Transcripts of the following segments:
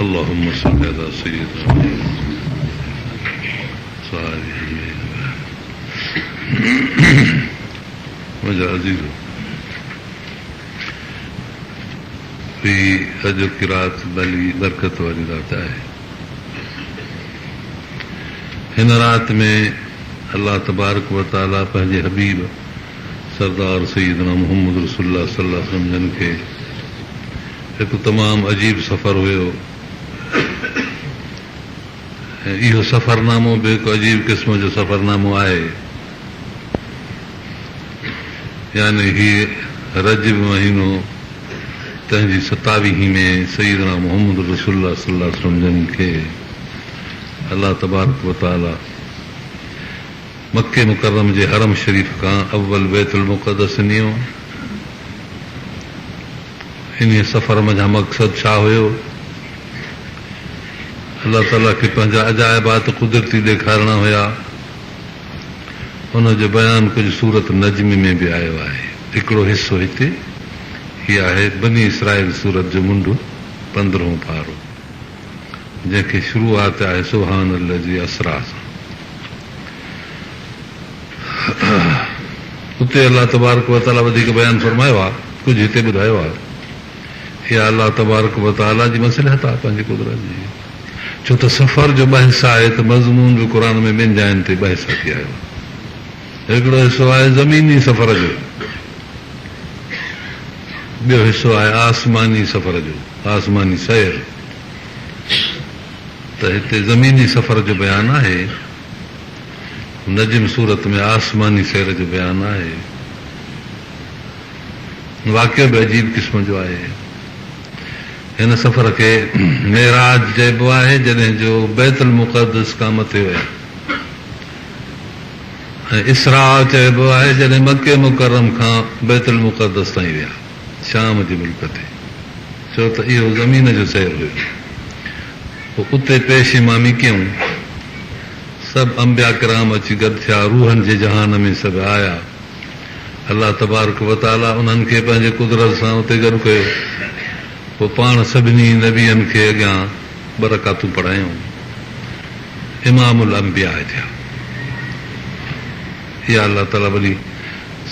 اللهم صل علي سيدنا محمد صاحب جميع منهنجا عزيزو هي اڄوڪي رات ڀلي برڪت واري رات آهي هن رات ۾ الله تبارڪ وتعالي پنهنجي حبيب سردار سيدنا محمد رسول الله صلي الله عليه وسلم جن کي هڪ تمام عجيب سفر هيو ۽ اهو سفرنامو به هڪ عجيب قسم جو سفرنامو آهي يعني هي رجب مهينو تنهن جي ستاويهين ۾ سيدنا محمد رسول الله صلي الله عليه وسلم جن کي الله تبارڪ وتعالي مڪي مڪرم جي حرم شريف کان اول بيت المقدس نيو، انهيء سفر منجهان مقصد ڇا هيو؟ الله تعاليٰ کي پنهنجا عجائبات قدرتي ڏيکارڻا هيا، ان جو بيان ڪجهه سورة نجم ۾ به آيو آهي، هڪڙو حصو هتي، هي آهي بني اسرائيل سورت جو منڍ پندرهون پارو، جنهن کي شروعات آهي سبحان الذي اسريٰ سان. اتي الله تبارڪ و تعالي وڌيڪ بيان فرمايو آهي، ڪجهه هتي ٻڌايو آهي. اها الله تبارڪ و تعالي جي مصلحت آهي، پنهنجي قدرت جي. ڇو ته سفر جو بحث آهي ته مضمون به قرآن ۾ ٻن جاين تي بحث اچي آيو آهي. هڪڙو حصو آهي زميني سفر جو، ٻيو حصو آهي آسماني سفر جو، آسماني سير. ته هتي زميني سفر جو بيان آهي، نجم سورت ۾ آسماني سير جو بيان آهي. واقعو به عجيب قسم جو آهي. هن سفر کي معراج چئبو آهي، جڏهن جو بيت المقدس کان مٿي ويا ۽ اسراء چئبو آهي، جڏهن مڪي مڪرم کان بيت المقدس تائين ويا. شام جي ملڪ تي، ڇو ته اهو زمين جو سير هيو. پوء اتي پيش امامي ڪيائون. سڀ انبياء ڪرام اچي گڏ ٿيا، روحن جي جهان ۾ سڀ آيا. الله تبارڪ و تعاليٰ انهن کي پنهنجي قدرت سان اتي گڏ ڪيو. پوء پاڻ سڀني نبين کي اڳيان ٻه رڪعتون پڙهايائون. امام الانبياء ٿيا. اها الله تعاليٰ وڏي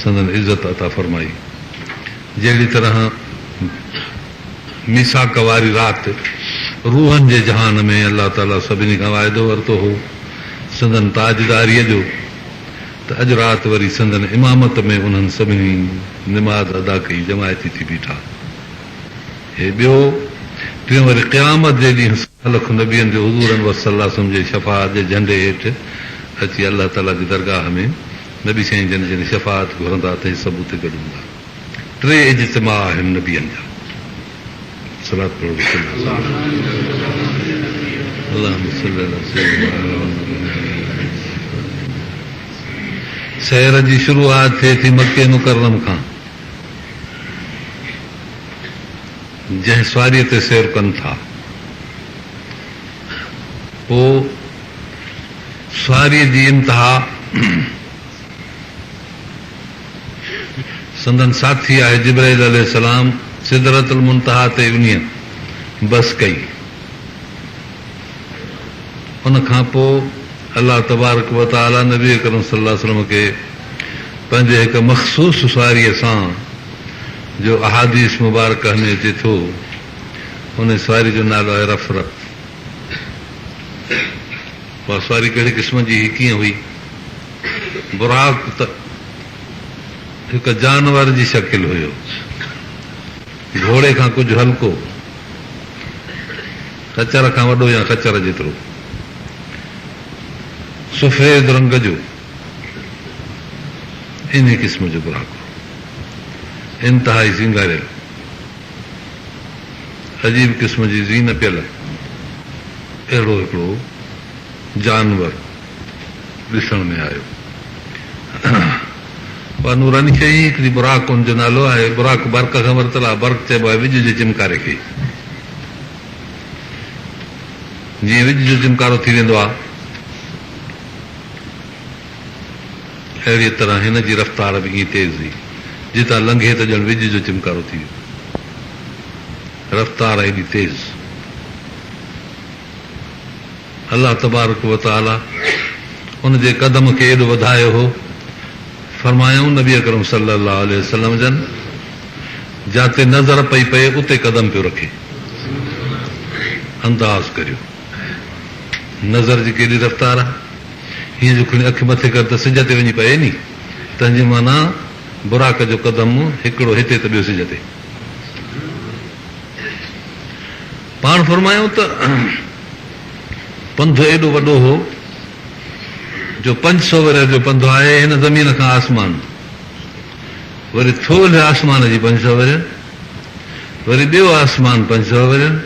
سندن عزت عطا فرمائي. جهڙي طرح ميثاق واري رات روحن جي جهان ۾ الله تعاليٰ سڀني کان واعدو ورتو هو سندن تاجداريء جو ته اڄ رات وري سندن امامت ۾ انهن سڀني نماز ادا ڪئي جماعتي ٿي بيٺا هي ٻيو ٽيون وري قيامت جي ڏينهن سؤ لک نبين جو حضور انور صلعم جي شفاعت جي جهنڊي هيٺ اچي الله تعاليٰ جي درگاهه ۾ نبي سائين جن جن شفاعت گهرندا ته هي سڀ اتي گڏ هوندا ٽي اجتماع آهن نبين جا صلات پڙهو رسول الله صلي الله اللهم صلي علي سيدنا سحر جي شروعات ٿئي ٿي مڪي مڪرم کان جنهن سواري تي سير ڪن ٿا پوء ساريء جي انتها سندن ساٿي آهي جبرائيل عليه السلام سدرة المنتهيٰ تي وڃي بس ڪئي. ان کان پوء الله تبارڪ وتعاليٰ نبي اڪرم صلّي الله عليه وسلّم کي پنهنجي هڪ مخصوص ساريء سان جو احاديث مبارڪه ۾ اچي ٿو، انهيء ساريء جو نالو آهي رفرت. اها سواري ڪهڙي قسم جي هئي، ڪيئن هئي؟ براق ته هڪ جانور جي شڪل هيو، گهوڙي کان ڪجهه هلڪو، خچر کان وڏو يا خچر جيترو، سفيد رنگ جو انهي قسم جو براق هو، انتهائي سينگاريل. عجيب قسم جي زين پيل اهڙو هڪڙو جانور ڏسڻ ۾ آيو. اها نوراني شيء ئي هڪڙي براق ان جو نالو آهي. براق برق کان ورتل آهي. برق چئبو آهي وڄ جي چمڪاري کي. جيئن وڄ جو چمڪارو ٿي ويندو آهي. اهڙيء طرح هن جي رفتار به ائين تيز هئي، جتان لنگهي ته ڄڻ وڄ جو چمڪارو ٿي ويو. رفتار هيڏي تيز! الله تبارڪ و تعاليٰ ان جي قدم کي ايڏو وڌايو هو، فرمايائون نبي اڪرم صلّي الله عليه وسلّم جن جاتي نظر پئي پئي اتي قدم پيو رکي. انداز ڪريو نظر جي ڪيڏي رفتار آهي. هيء جو کڻي اک مٿي ڪر ته سج تي وڃي پئي ني، تنهن جي معنيٰ براق جو قدم هڪڙو هتي ته ٻيو سج تي. پاڻ فرمايائون ته پنڌ ايڏو وڏو هو جو پنج سؤ ورهيه جو پنڌ آهي هن زمين کان آسمان، وري ٿولهه آسمان جي پنج سؤ ورهين، وري ٻيو آسمان پنج سؤ ورهين.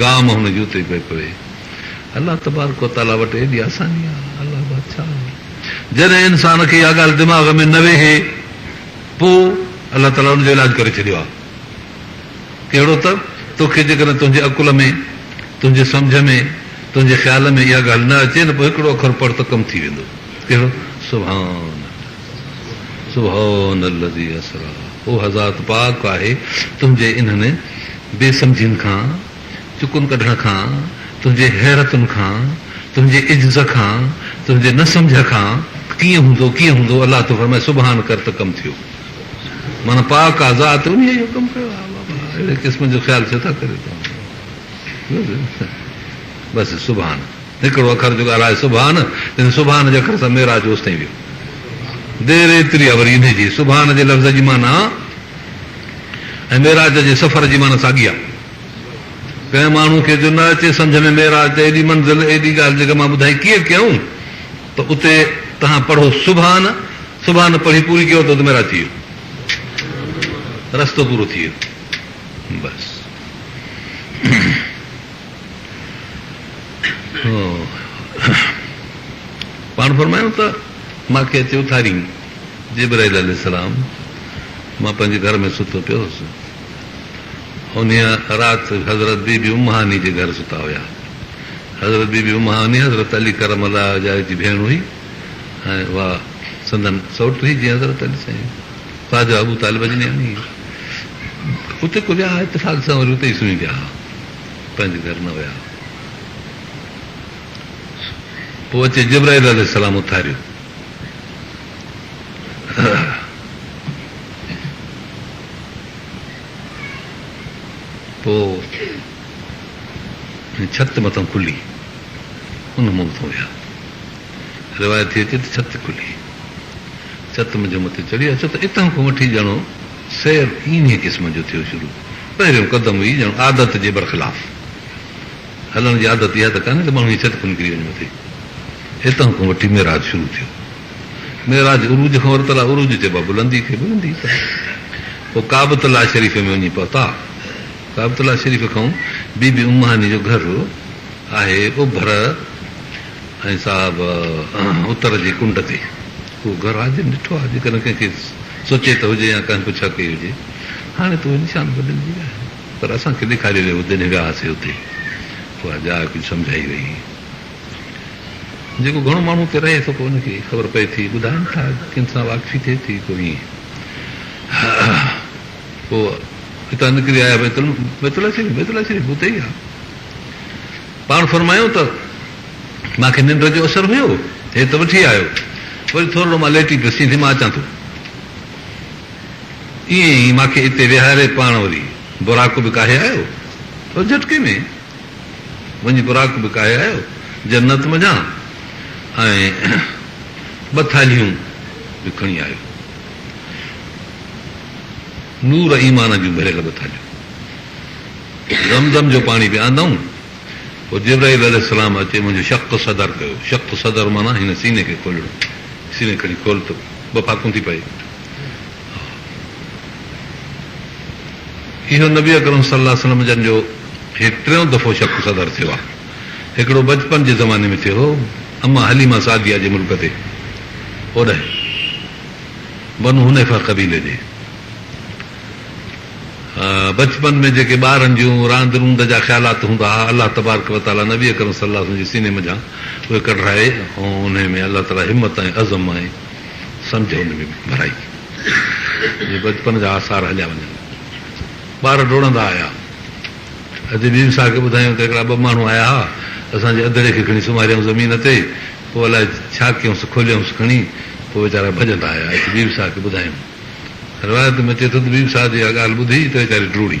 گاهه مان هن جوتي پئي پوي. الله تبارڪ و تعاليٰ وٽ ايڏي آساني آ. الله بادشاهه آهي. جڏهن انسان کي اها ڳالهه دماغ ۾ نه ويهي پو الله تعاليٰ ان جو علاج ڪري ڇڏيو آ. ڪهڙو ته توکي جيڪڏهن تنهنجي عقل ۾ تنهنجي سمجهه ۾ تنهنجي خيال ۾ اها ڳالهه نه اچي نه پو هڪڙو اکر پڙهه ته ڪم ٿي ويندو. ڪهڙو؟ سبحان الله. سبحان الذي اسري اها ذات پاڪ آهي تنهنجي انهن بي سمجهين کان، چڪن ڪڍڻ کان، تنهنجي حيرتن کان، تنهنجي عجز کان، تنهنجي نه سمجهه کان، ڪيئن هوندو ڪيئن هوندو الله ٿو فرمائي سبحان ڪر ته ڪم ٿيو معنيٰ پاڪ آ ذات انهيء اهو ڪم ڪيو آ اهڙي قسم جو خيال ڇو ٿا ڪريو توهان بس سبحان هڪڙو اکر جو ڳالهائي سبحان تنهن سبحان جي اکر سان معراج جو اوستائين ويو دير ايتري آ وري انهي جي سبحان جي لفظ جي معنيٰ ۽ معراج جي سفر جي معنيٰ ساڳي آ ڪنهن ماڻهو کي جو نه اچي سمجهه ۾ معراج ته ايڏي منزل ايڏي ڳالهه جيڪا مان ٻڌائي ڪيئن ڪيائون ته اتي تهان پڙهو سبحان سبحان پڙهي پوري ڪيو ته اتي معراج ٿي ويو رستو پورو ٿي ويو بس پاڻ فرمايو ته مان کي اچي اٿاريائين، جبرائيل عليه السلام، مان پنهنجي گهر ۾ ستو پيو هوس. انهيء رات حضرت بي بي ام هاني جي گهر ستا هيا. حضرت بي بي ام هاني حضرت علي ڪرم الله وجهه جي ڀيڻ هئي ۽ اها سندن سئوٽ هئي جيئن حضرت علي سائين خواجه ابو طالب اجمياڻي اتي ڪو ويا ها اتفاق سان وري اتي ئي سمهي پيا ها. پنهنجي گهر نه ويا هئا. پوء اچي جبرائيل عليه السلام اٿاريو. پوء ڇت مٿان کلي ان مون مٿان ويا. روايت ٿي اچي ته ڇت کلي ڇت منجهه مٿي چڙهي اچو ته اتان کان وٺي ڄڻو سير انهيء قسم جو ٿيو شروع. پهريون قدم هئي ڄڻ عادت جي برخلاف. هلڻ جي عادت اها ته ڪانهي ته ماڻهو ائين چٽ ڪو نڪري وڃي مٿي. هتان کان وٺي معراج شروع ٿيو. معراج عروج کان ورتل آهي، عروج چئبا بلندي کي، بلندي ته پوء ڪعبت الله شريف ۾ وڃي پهتا. ڪعبت الله شريف کان بي بي ام هاني جو گهر آهي اوڀر ۽ صاحب اتر جي ڪنڊ تي. اهو گهر آء جن ڏٺو آهي، جيڪڏهن ڪنهن کي سوچي ته هجي يا ڪنهن پڇا ڪئي هجي. هاڻي تون انسان بدلجي ويو آهين. پر اسان کي ڏيکاري رهيو هو. جڏهن وياسي اتي اها جاء ڪجهه سمجهائي وئي هئي. جيڪو گهڻو ماڻهو اتي رهي ٿو پوء ان کي خبر پئي ٿي. ٻڌائين ٿا ڪن سان واقفي ٿئي ٿي پوء ائين پوء اتان نڪري آيا بيت الله شريف بيت الله شريف اتي ئي آهي. پاڻ فرمايو ته مان کي ننڊ جو اثر هيو هي ته وٺي آيو وري ٿورڙو مان ليٽي پيس چئين ٿي مان اچان ٿو. ائين ئي مان کي اتي ويهاري پاڻ وري براڪ به ڪاهي آيو ۽ جهٽڪي ۾ وڃي براڪ به ڪاهي آيو جنت منجهان ۽ ٻه ٿالهيون به کڻي آيو نور ايمان جون ڀريل ٻه ٿالهيون زمزم جو پاڻي به آندائون پوء جبرائيل عليه السلام اچي منهنجو شق صدر ڪيو شق صدر معنيٰ هن سيني کي کولڻ سيني کڻي کول ته ٻه ڦاڪون ٿي پئي اهو نبي اڪرم صلي الله عليه وسلم جن جو هي ٽيون دفعو شق صدر ٿيو آهي. هڪڙو بچپن جي زماني ۾ ٿيو هو اما حليمه سعديه جي ملڪ تي اوڏهه بنو حنيفه قبيلي جي بچپن ۾ جيڪي ٻارن جون راند روند جا خيالات هوندا ها الله تبارڪ و تعالي نبي اڪرم صلي الله عليه وسلم جي سيني منجهان اهي ڪڍرائي ۽ انهي ۾ الله تعالي همت ۽ عزم ۽ سمجهه ان ۾ به ڀرائي ٿي جي بچپن جا آثار هليا وڃن. ٻار ڊوڙندا آيا. اڄ ٻيم صاحب کي ٻڌايائون ته هڪڙا ٻه ماڻهو آيا ها، اسان جي اڌڙي کي کڻي سمهاريائون زمين تي، پوء الاء ڇا ڪيائونس، کوليائونس کڻي، پوء ويچارا ڀڄندا آيا. اچ ٻيم صاحب کي ٻڌايائون. روايت ۾ اچي ٿو ته ٻيم صاحب جي اها ڳالهه ٻڌي ته ويچاري ڊوڙي.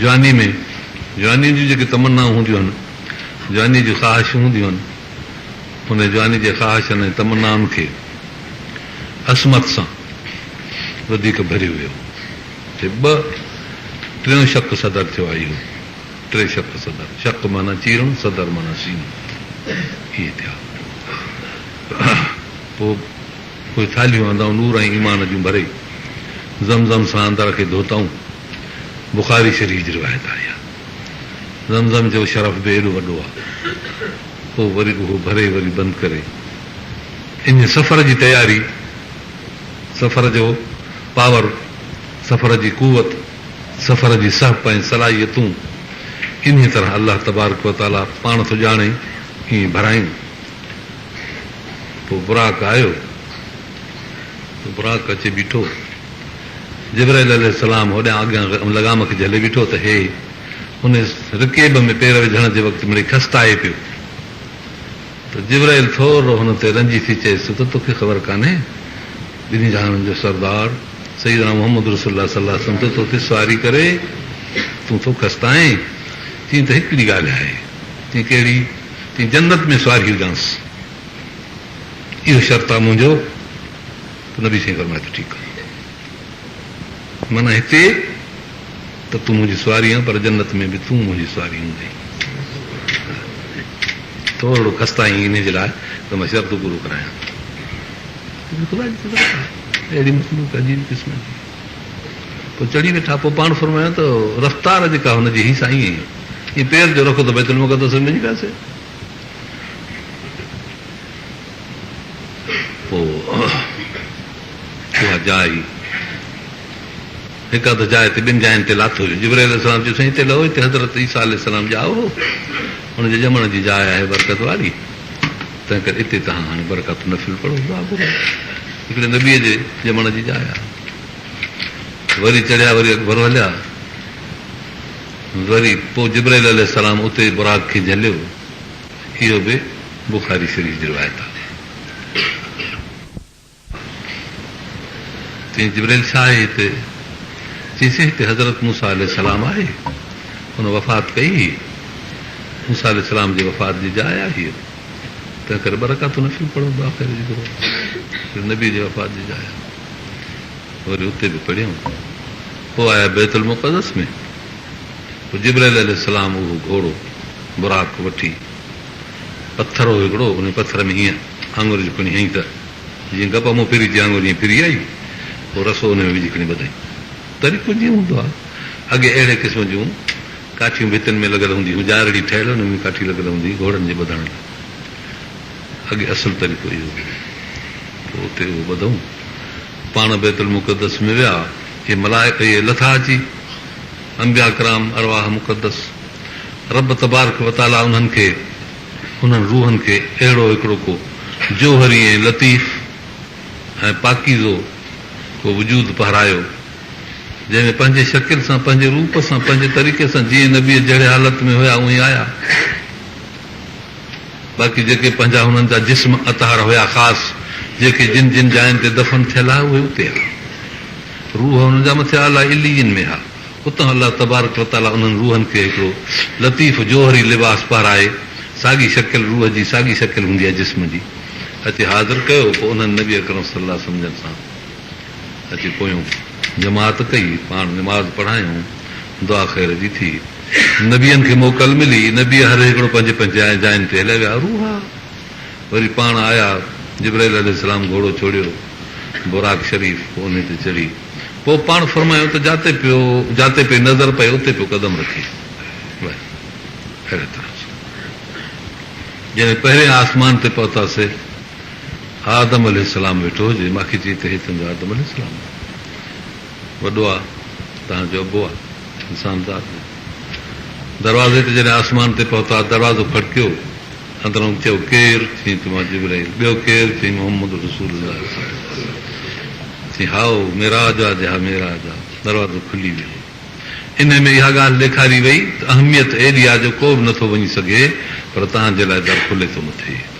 جوانيء ۾ جوانيء جون جيڪي تمنائون هونديون آهن، جوانيء جون خواهشون هونديون آهن، انهيء جوانيء جي خواهشن ۽ تمنائن کي عصمت سان وڌيڪ ڀريو ويو هو ته ٻه ٽيون شق صدر ٿيو آئي هو. ٽي شق صدر، شق معنيٰ چيرڻ، صدر معنيٰ سينو، اهي ٿيا. پوء اهي ٿالهيون آندائون نور ۽ ايمان جون ڀري، زم زم سان اندر کي ڌوتائون. بخاري شريف جي روايت آهي ها زمزم جو شرف به ايڏو وڏو آهي پوء وري اهو ڀري وري بند ڪري ان سفر جي تياري سفر جو پاور سفر جي قوت سفر جي سهپ ۽ صلاحيتون انهي طرح الله تبارڪ و تعالي پاڻ ٿو ڄاڻي ائين ڀرايون پوء براڪ آيو براق اچي بيٺو. جبرائيل عليه السلام هوڏيان اڳيان ان لغام کي جهلي بيٺو ته هي ان رڪيب ۾ پير وجهڻ جي وقت مڙئي کستائي پيو ته جبرائيل ٿورڙو هن تي رنجي ٿي چيس ته توکي خبر ڪانهي ٻنهي جهانن جو سردار سيدنا محمد رسول الله صلي الله عليه وسلم ته توکي سواري ڪري تون ٿو کستائين چين ته هڪڙي ڳالهه آهي چين ڪهڙي چين جنت ۾ سواري هجانس. اهو شرط آ منهنجو ته نبي سائين فرمائي ٿو ٺيڪ آ معنيٰ هتي ته تون منهنجي سواري آن پر جنت ۾ به تون منهنجي سواري هوندين ٿورڙو خسته آهين انهي جي لاء ته مان شرط پورو ڪرايان ٿو خدا جي قدرت آ اهڙي مخلوق عجيب قسم جي پوء چڙهي ويٺا پوء پاڻ فرمايو ته رفتار جيڪا هن جي هي سائين ائين پير جو رخ ته بيت المقدس ۾ وڃي پياسي پوء اها جاء ئي هڪ اڌ جاء تي ٻن جاين تي لاٿو ويو. جبرائيل عليه السلام چيو، سائين هتي لهو، هتي حضرت عيسيٰ عليه السلام ڄائو هو، ان جي ڄمڻ جي جاء آهي برڪت واري، تنهنڪري اتي توهان هاڻي برڪات نفل پڙهو، دعا گهرو، هڪڙي نبيء جي ڄمڻ جي جاء آهي. وري چڙهيا، وري اڳڀرو هليا. وري پوء جبرائيل عليه السلام اتي براق کي جهليو، اهو به بخاري شريف جي روايت آهي چيائين جبرائيل ڇا آهي هتي؟ چيسين هتي حضرت موسيٰ عليه السلام آهي هن وفات ڪئي هئي موسيٰ عليه السلام جي وفات جي جاء آهي اهو تنهن ڪري ٻه رڪعتون نفل پڙهو دعا ڪريو جيڪو نبي جي وفات جي جاء آهي. وري اتي به پڙهيائون پوء آيا بيت المقدس ۾ پوء جبرائيل عليه السلام اهو گهوڙو براق وٺي پٿر هو هڪڙو ان پٿر ۾ هيئن آڱر جو کڻي هنئين ته جيئن گپ مون ڦري جي آڱر هيئن ڦري آئي پوء رسو ان ۾ وجهي کڻي ٻڌائين طريقو جيئن هوندو آهي اڳي اهڙي قسم جون ڪاٺيون ڀتين ۾ لڳل هونديون هيون ڄارڙي ٺهيل ان ۾ ڪاٺي لڳل هوندي هئي گهوڙن جي ٻڌڻ لاء اڳي اصل طريقو اهو هو. پوء اتي اهو ٻڌئون. پاڻ بيت المقدس ۾ ويا. اهي ملائڪ اهي لٿا اچي، انبياء ڪرام، ارواح مقدس. رب تبارڪ و تعاليٰ انهن کي، انهن روحن کي، اهڙو هڪڙو ڪو جوهري ۽ لطيف ۽ پاڪيزو ڪو وجود پهرايو، جنهن ۾ پنهنجي شڪل سان، پنهنجي روپ سان، پنهنجي طريقي سان جيئن نبيء جهڙي حالت ۾ هيا اونهي آيا. باقي جيڪي پنهنجا هنن جا جسم اطهر هيا خاص جيڪي جن جن جاين تي دفن ٿيل ها اهي اتي ها روح هنن جا مٿي اعليٰ عليين ۾ ها اتان الله تبارڪ وتعاليٰ انهن روحن کي هڪڙو لطيف جوهري لباس پهرائي ساڳي شڪل روح جي ساڳي شڪل هوندي آهي جسم جي اچي حاضر ڪيو پوء انهن نبي اڪرم صلّي الله عليه وسلّم جن سان اچي پويون جماعت ڪئي، پاڻ نماز پڙهايون، دعا خير جي ٿي. نبين کي موڪل ملي، نبي هر هڪڙو پنهنجي پنهنجي جاين تي هليا ويا. روح وري پاڻ آيا، جبرائيل عليه السلام گهوڙو ڇوڙيو، براق شريف انهي تي چڙهي، پوء پاڻ فرمايو ته جاتي پيو جاتي پئي نظر پئي اتي پيو قدم رکي. وري اهڙي طرح سان جڏهن پهرين آسمان تي پهتاسي. آدم عليه السلام ويٺو هجي، ماکي چيئي ته هي تنهنجو آدم عليه السلام آهي، وڏو آ، تهان جو ابو آ، انسان ذات جو. دروازي تي جڏهن آسمان تي پهتا، دروازو کڙڪيو، اندرئون چيو، ڪير؟ چيئي ته مان جبرائيل، ٻيو ڪير؟ چيئي محمد رسول الله صلي الله عليه وسلم، چيئي هائو، معراج آ جي ها معراج آ، دروازو کلي ويو. انهي ۾ اها ڳالهه ڏيکاري وئي ته اهميت ايڏي آ جو ڪو به نٿو وڃي سگهي، پر تهان جي لاء در کلي ٿو مٿي.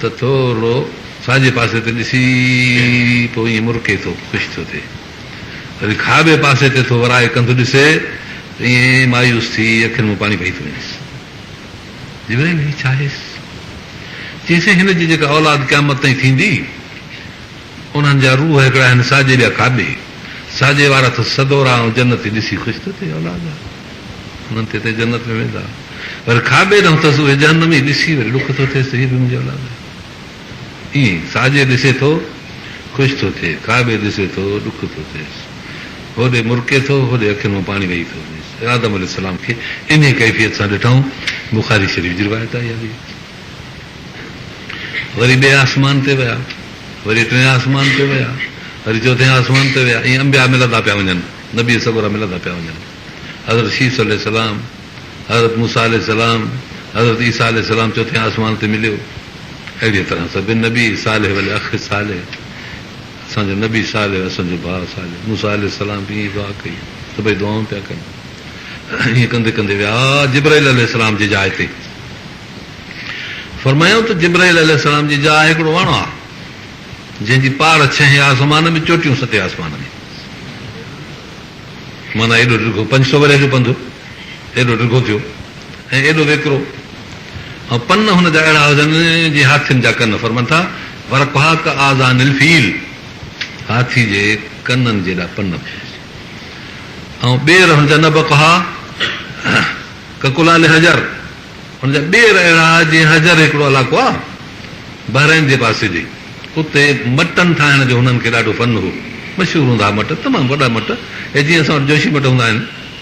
ته ٿورڙو ساڄي پاسي تي ڏسي پوء ائين مرڪي ٿو، خوش ٿو ٿئي. وري کاٻي پاسي تي ٿو ورائي ڪنڌ ڏسي ته ائين مايوس ٿي اکين مان پاڻي پئي ٿو وڃيس. جبرائيل هي ڇا هيس؟ چيائينس هن جي جيڪا اولاد قيامت تائين ٿيندي، انهن جا روح هڪڙا آهن ساڄي ٻيا کاٻي، ساڄي وارا اٿس سڳورا ۽ جنتي ڏسي خوش ٿو ٿئي اولاد جا انهن تي تي جنت ۾ ويندا وري کاٻي ڏانهن اٿس اهي جهنمي ڏسي وري ڏک ٿو ٿئيس ته هي به منهنجي اولاد آهي ائين ئي ساڄي ڏسي ٿو خوش ٿو ٿئي کاٻي ڏسي ٿو ڏک ٿو ٿئيس هوڏي مرڪي ٿو هوڏي اکين مان پاڻي وهي ٿو وڃيس آدم عليه السلام کي انهي ڪيفيت سان ڏٺائون بخاري شريف جي روايت آهي اهڙي. وري ٻئي آسمان تي ويا، وري ٽئين آسمان تي ويا، وري چوٿين آسمان تي ويا، ائين انبياء ملندا پيا وڃن، نبي سڳورا ملندا پيا وڃن. حضرت شيس عليه السلام، حضرت موسيٰ عليه السلام، حضرت عيسيٰ عليه السلام چوٿين آسمان تي مليو. اهڙيء طرح سڀني نبي صالح والاخ صالح، اسان جو نبي صالح، اسان جو ڀاء صالح، موسيٰ عليه السلام به ائين ئي دعا ڪئي، سڀئي دعائون پيا ڪن. ائين ڪندي ڪندي ويا جبرائيل عليه السلام جي جاء تي. فرمايائون ته جبرائيل عليه السلام جي جاء هڪڙو وڻ آ، جنهن جي پاڙ ڇهين آسمان ۾، چوٽيون ستين آسمان ۾. معنيٰ ايڏو ڊگهو، پنج سؤ ورهين جو پنڌ ايڏو ڊگهو ٿيو ۽ ايڏو ويڪرو ۽ پن هن جا اهڙا هجن، جيئن هاٿين جا ڪن، فرمائن ٿا، ورقها ڪآذان الفيل، هاٿي جي ڪنن جيڏا پن به هجن ۽ ٻير هن جا نبقها ڪڪلال حجر، هن جا ٻير اهڙا ها جيئن حجر هڪڙو علائقو آ بحرين جي پاسي ڏي اتي مٽن ٺاهڻ جو هنن کي ڏاڍو فن هو مشهور هوندا ها مٽ تمام وڏا مٽ اهي جيئن اسان وٽ جوشي مٽ هوندا آهن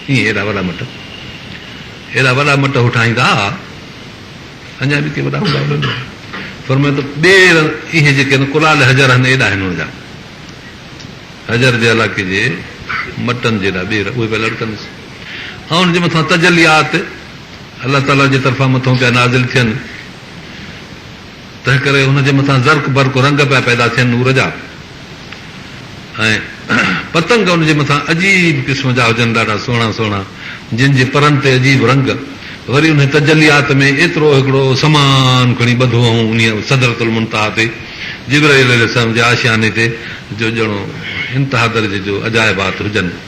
ائين ايڏا وڏا مٽ ايڏا وڏا مٽ هو ٺاهيندا ها اڃا به ڪي وڏا هوندا هلن ها فرمائن ته ٻير اهي جيڪي آهن ڪلال حجر آهن ايڏا آهن هن جا حجر جي علائقي جي مٽن جيڏا ٻير اهي پيا لڙڪنس ۽ ان جي مٿان تجليات الله تعاليٰ جي طرفان مٿو پيا نازل ٿين، تنهنڪري ان جي مٿان زرق برق رنگ پيا پيدا ٿين نور جا ۽ پتنگ ان جي مٿان عجيب قسم جا هجن ڏاڍا سهڻا سهڻا جن جي پرن تي عجيب رنگ وري انهي تجليات ۾ ايترو هڪڙو سمان کڻي ٻڌو هئون انهي سدرة المنتهيٰ تي جبرئيل عليه السلام جي آشياني تي جو ڄڻو انتها درجي جو عجائبات هجن.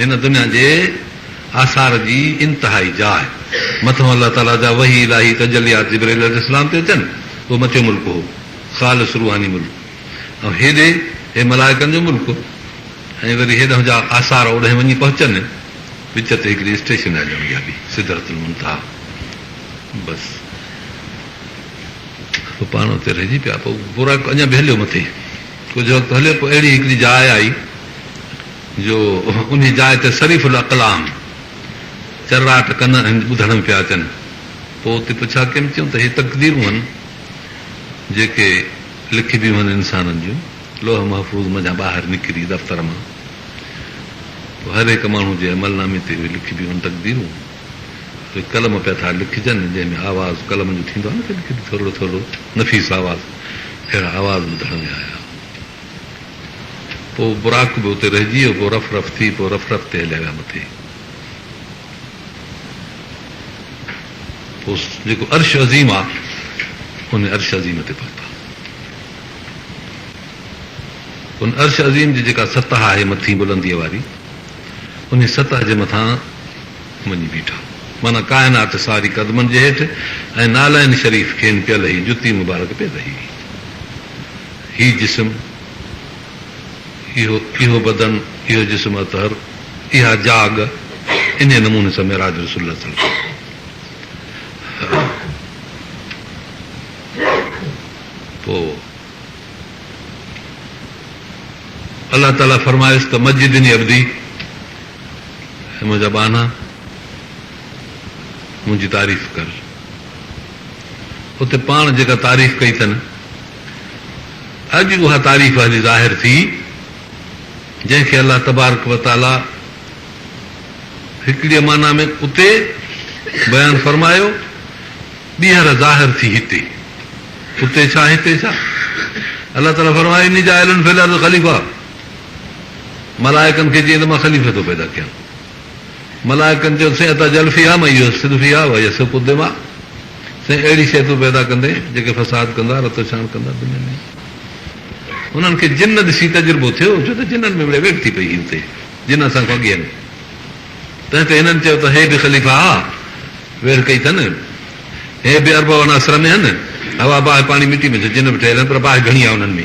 هن دنيا جي آثار جي انتهائي جاء مٿون الله تعاليٰ جا وحي الاهي تجليات جبرئيل عليه السلام تي اچن اهو مٿيون ملڪ هو خالص روحاني ملڪ ۽ هيڏي هي ملائڪن جو ملڪ ۽ وري هيڏهن جا آثار اوڏهين وڃي پهچن وچ تي هڪڙي اسٽيشن آهي ڄڻ اها به سدرت المنتها بس پوء پاڻ اتي رهجي پيا پوء براڪ اڃا به هليو مٿي ڪجهه وقت هليو پوء اهڙي هڪڙي جاء آئي جو انهي جاء تي صريف الاقلام چرراٽ ڪن ۽ ٻڌڻ ۾ پيا اچن. پوء اتي پڇا ڪيم چيون ته هي تقديرون هن جيڪي لکبيون هن انسانن جون لوح محفوظ منجهان ٻاهر نڪري دفتر مان پوء هر هڪ ماڻهو جي عمل نامي تي اهي لکبيون هن تقديرون پوء قلم پيا ٿا لکجن جنهن ۾ آواز قلم جو ٿيندو آهي نه ڪڏهن ڪڏهن ٿورڙو ٿورڙو نفيس آواز اهڙا آواز ٻڌڻ ۾ آيا. پوء براق به اتي رهجي ويو، پوء رف رف ٿي، پوء رف رف تي هليا ويا مٿي. پوء جيڪو عرش عظيم آ، ان عرش عظيم تي پهتا. ان عرش عظيم جي جيڪا سطح آهي مٿين بلنديء واري، انهي سطح جي مٿان وڃي بيٺا. معنيٰ ڪائنات ساري قدمن جي هيٺ ۽ نعلين شريف کين پيل هي جتي مبارڪ پيل هي. هي جسم، اهو، اهو بدن، اهو جسم اطهر، اها جاڳ، انهيء نموني سان معراج رسول الله ٿيڻ گهرجي. پوء الله تعاليٰ فرمايس ته مجدني عبدي، اي منهنجا ٻانها! منهنجي تعريف ڪر. اتي پاڻ جيڪا تعريف ڪئي اٿن. اڄ اها تعريف هلي ظاهر ٿي جنهن کي الله تبارڪ و تعاليٰ هڪڙيء معنيٰ ۾ اتي بيان فرمايو، ٻيهر ظاهر ٿي هتي. اتي ڇا هتي ڇا؟ الله تعاليٰ فرمايو، اني جاعل في الارض خليفه، ملائڪن کي چيائين ته مان خليفي ٿو پيدا ڪيان. ملائڪن چيو، سين اتجعل فيها من يفسد فيها ويسفڪ الدماء، سين اهڙي شيء تون پيدا ڪندين جيڪي فساد ڪندا، رت ڇاڻ ڪندا دنيا ۾. انهن کي جن ڏسي تجربو ٿيو، ڇو ته جنن ۾ مڙئي ويڙهه ٿي پئي هئي اتي، جن اسان کان اڳي آهن. تنهن تي هنن چيو ته هي به خليفا آ، ويڙهه ڪئي ٿن. هي به اربع عناصر ۾ آهن، هوا، باهه، پاڻي، مٽي ۾ ڇا جن به ٺهيل آهن پر باهه گهڻي آ انهن ۾.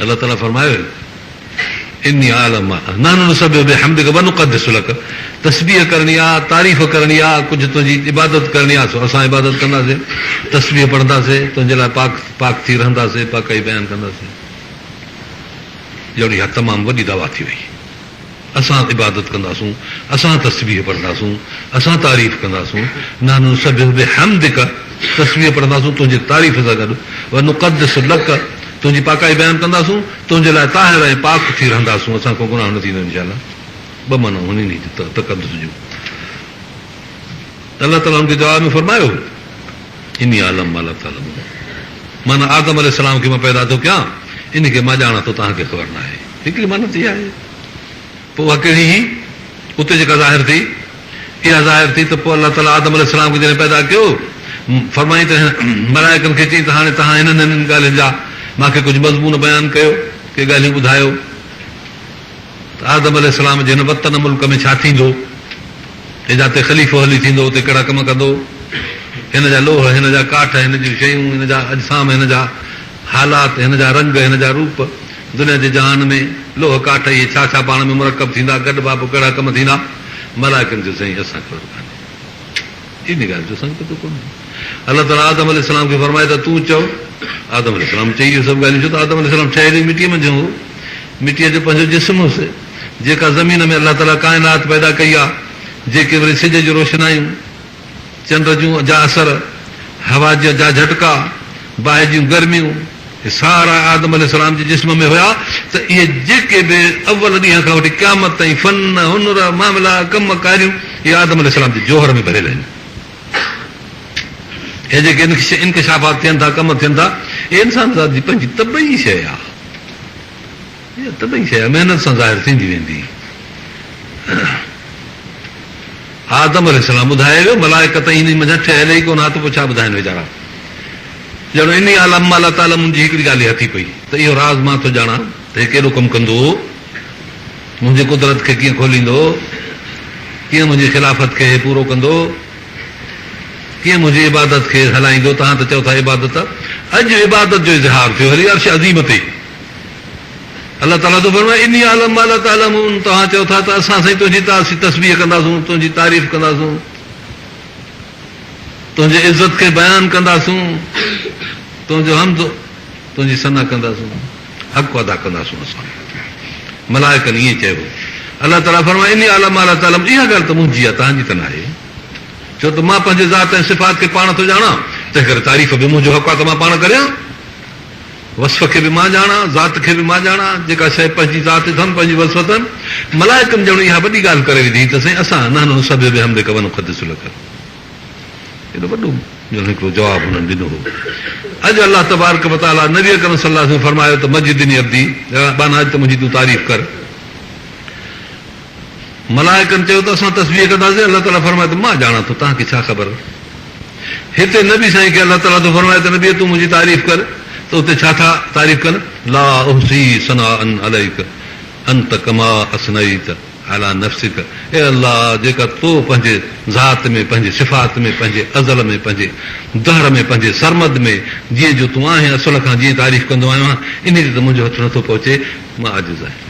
الله تعالي فرمايو هي اني اعلم ما نحن نسبح بحمدک ونقدس لک تسبيح ڪرڻي آ تعريف ڪرڻي آ ڪجهه تنهنجي عبادت ڪرڻي آ سو اسان عبادت ڪنداسي تسبيح پڙهنداسي تنهنجي لاء پاڪ پاڪ ٿي رهنداسي پاڪائي بيان ڪنداسي جهڙي اها تمام وڏي دعويٰ ٿي وئي اسان عبادت ڪنداسون، اسان تسبيح پڙهنداسون، اسان تعريف ڪنداسون، نحن نسبح بحمدک، تسبيح پڙهنداسون تنهنجي تعريف سان گڏ، ونقدس لک، تنهنجي پاڪائي بيان ڪنداسون، تنهنجي لاء طاهر ۽ پاڪ ٿي رهنداسون، اسان کان گناهه نه ٿيندو انشاء الله ٻه معنائون هن انهي جي تقدس جون الله تعالي ان کي جواب ۾ فرمايو اني اعلم ما لا تعلمون معنيٰ آدم عليه السلام کي مان پيدا ٿو ڪيان انهي کي مان ڄاڻان ٿو توهان کي خبر ناهي هڪڙي معنيٰ ته اها آهي. پوء اها ڪهڙي هئي؟ اتي جيڪا ظاهر ٿي، اها ظاهر ٿي ته پوء الله تعاليٰ آدم عليه السلام کي جڏهن پيدا ڪيو، فرمائين ته ملائڪن کي چئي ته هاڻي توهان هنن هنن ڳالهين جا مان کي ڪجهه مضمون بيان ڪيو، ڪي ڳالهيون ٻڌايو ته آدم عليه السلام جي هن وطن ملڪ ۾ ڇا ٿيندو ۽ جاتي خليفو هلي ٿيندو اتي ڪهڙا ڪم ڪندو؟ هن جا لوهه، هن جا ڪاٺ، هن جون شيون، هن جا اجسام، هن جا حالات، هن جا رنگ، هن جا روپ، دنيا جي جهان ۾، لوهه ڪاٺ اهي ڇا ڇا پاڻ ۾ مرڪب ٿيندا، گڏ بها پوء ڪهڙا ڪم ٿيندا؟ ملائڪن چيو، سائين اسان کي خبر ڪانهي. انهيء ڳالهه جو اسان کي پتو ڪونه آهي. الله تعاليٰ آدم عليه السلام کي فرمايو ته تون چئو. آدم عليه السلام چئي اهي سڀ ڳالهيون، ڇو ته آدم عليه السلام ٺهيل ئي مٽيء منجهان هو. مٽيء جو پنهنجو جسم هوس، جيڪا زمين ۾ الله تعاليٰ ڪائنات پيدا ڪئي آهي، جيڪي وري سج جون روشنايون، چنڊ جون جا اثر، هوا جا جا جهٽڪا، باهه جون گرميون، هي سارا آدم عليه السلام جي جسم ۾ هيا ته اهي جيڪي به اول ڏينهن کان وٺي قيامت تائين فن، هنر، معاملا، ڪم ڪاريون اهي آدم عليه السلام جي جوهر ۾ ڀريل آهن. هي جيڪي انڪشافات ٿين ٿا، ڪم ٿين ٿا، اهي انسان ذات جي پنهنجي طبعي شيء آهي. اها ته ٻئي شيء محنت سان ظاهر ٿيندي ويندي. آدم عليه السلام ٻڌائي ويو، ملائڪ ته انهي منجهان ٺهيل ئي ڪونه ها ته پوء ڇا ٻڌائين ويچارا. ڄڻ انهي عالم مالا تعلمن جي هڪڙي ڳالهه ئي هٿي پئي ته اهو راز مان ٿو ڄاڻان ته هي ڪيڏو ڪم ڪندو، منهنجي قدرت کي ڪيئن کوليندو، ڪيئن منهنجي خلافت کي هي پورو ڪندو، ڪيئن منهنجي عبادت کي هلائيندو، توهان ته چئو ٿا عبادت اڄ عبادت جو اظهار ٿيو هلي عرش عظيم تي. الله تعاليٰ ٿو فرمائي، اني اعلم ما لا تعلمون توهان چئو ٿا ته اسان سائين تنهنجي تسبيح ڪنداسون، تنهنجي تعريف ڪنداسون، تنهنجي عزت کي بيان ڪنداسون، تنهنجو حمد، تنهنجي ثنا ڪنداسون، حق ادا ڪنداسون اسان ملائڪن ائين چئبو. الله تعاليٰ فرمائي، اني اعلم ما لا تعلمون اها ڳالهه ته منهنجي آهي تنهنجي ته ناهي ڇو ته مان پنهنجي ذات ۽ صفات کي پاڻ ٿو ڄاڻان تنهن ڪري تعريف به منهنجو حق آهي ته مان پاڻ ڪريان. وصف کي به مان ڄاڻان، ذات کي به مان ڄاڻان، جيڪا شيء پنهنجي ذات اٿم، پنهنجي وصف اٿم، ملائڪن ڄڻ اها وڏي ڳالهه ڪري وڌي ته سائين اسان نحن نسبح بحمدک ونقدس لک ايڏو وڏو ڄڻ هڪڙو جواب هنن ڏنو هو اڄ الله تبارڪ وتعالي نبي اڪرم صلي الله عليه وسلم فرمايو ته مجدني عبدي اهڙا ٻانها اچ ته منهنجي تون تعريف ڪر ملائڪن چيو ته اسان تسبيح ڪنداسين، الله تعالي فرمايو ته مان ڄاڻان ٿو، توهان کي ڇا خبر؟ هتي نبي سائين کي الله تعالي ٿو فرمائي ته نبيء تون منهنجي تعريف ڪر ته اتي ڇا ٿا تعريف ڪن، لا احصي ثناء عليک انت ڪما اثنيت علي نفسک، اي الله جيڪا تو پنهنجي ذات ۾ پنهنجي صفات ۾ پنهنجي ازل ۾ پنهنجي دهر ۾ پنهنجي سرمد ۾ جيئن جو تون آهين اصل کان جيئن تعريف ڪندو آهيان انهي تي ته منهنجو هٿ نٿو پهچي مان عاجز آهيان.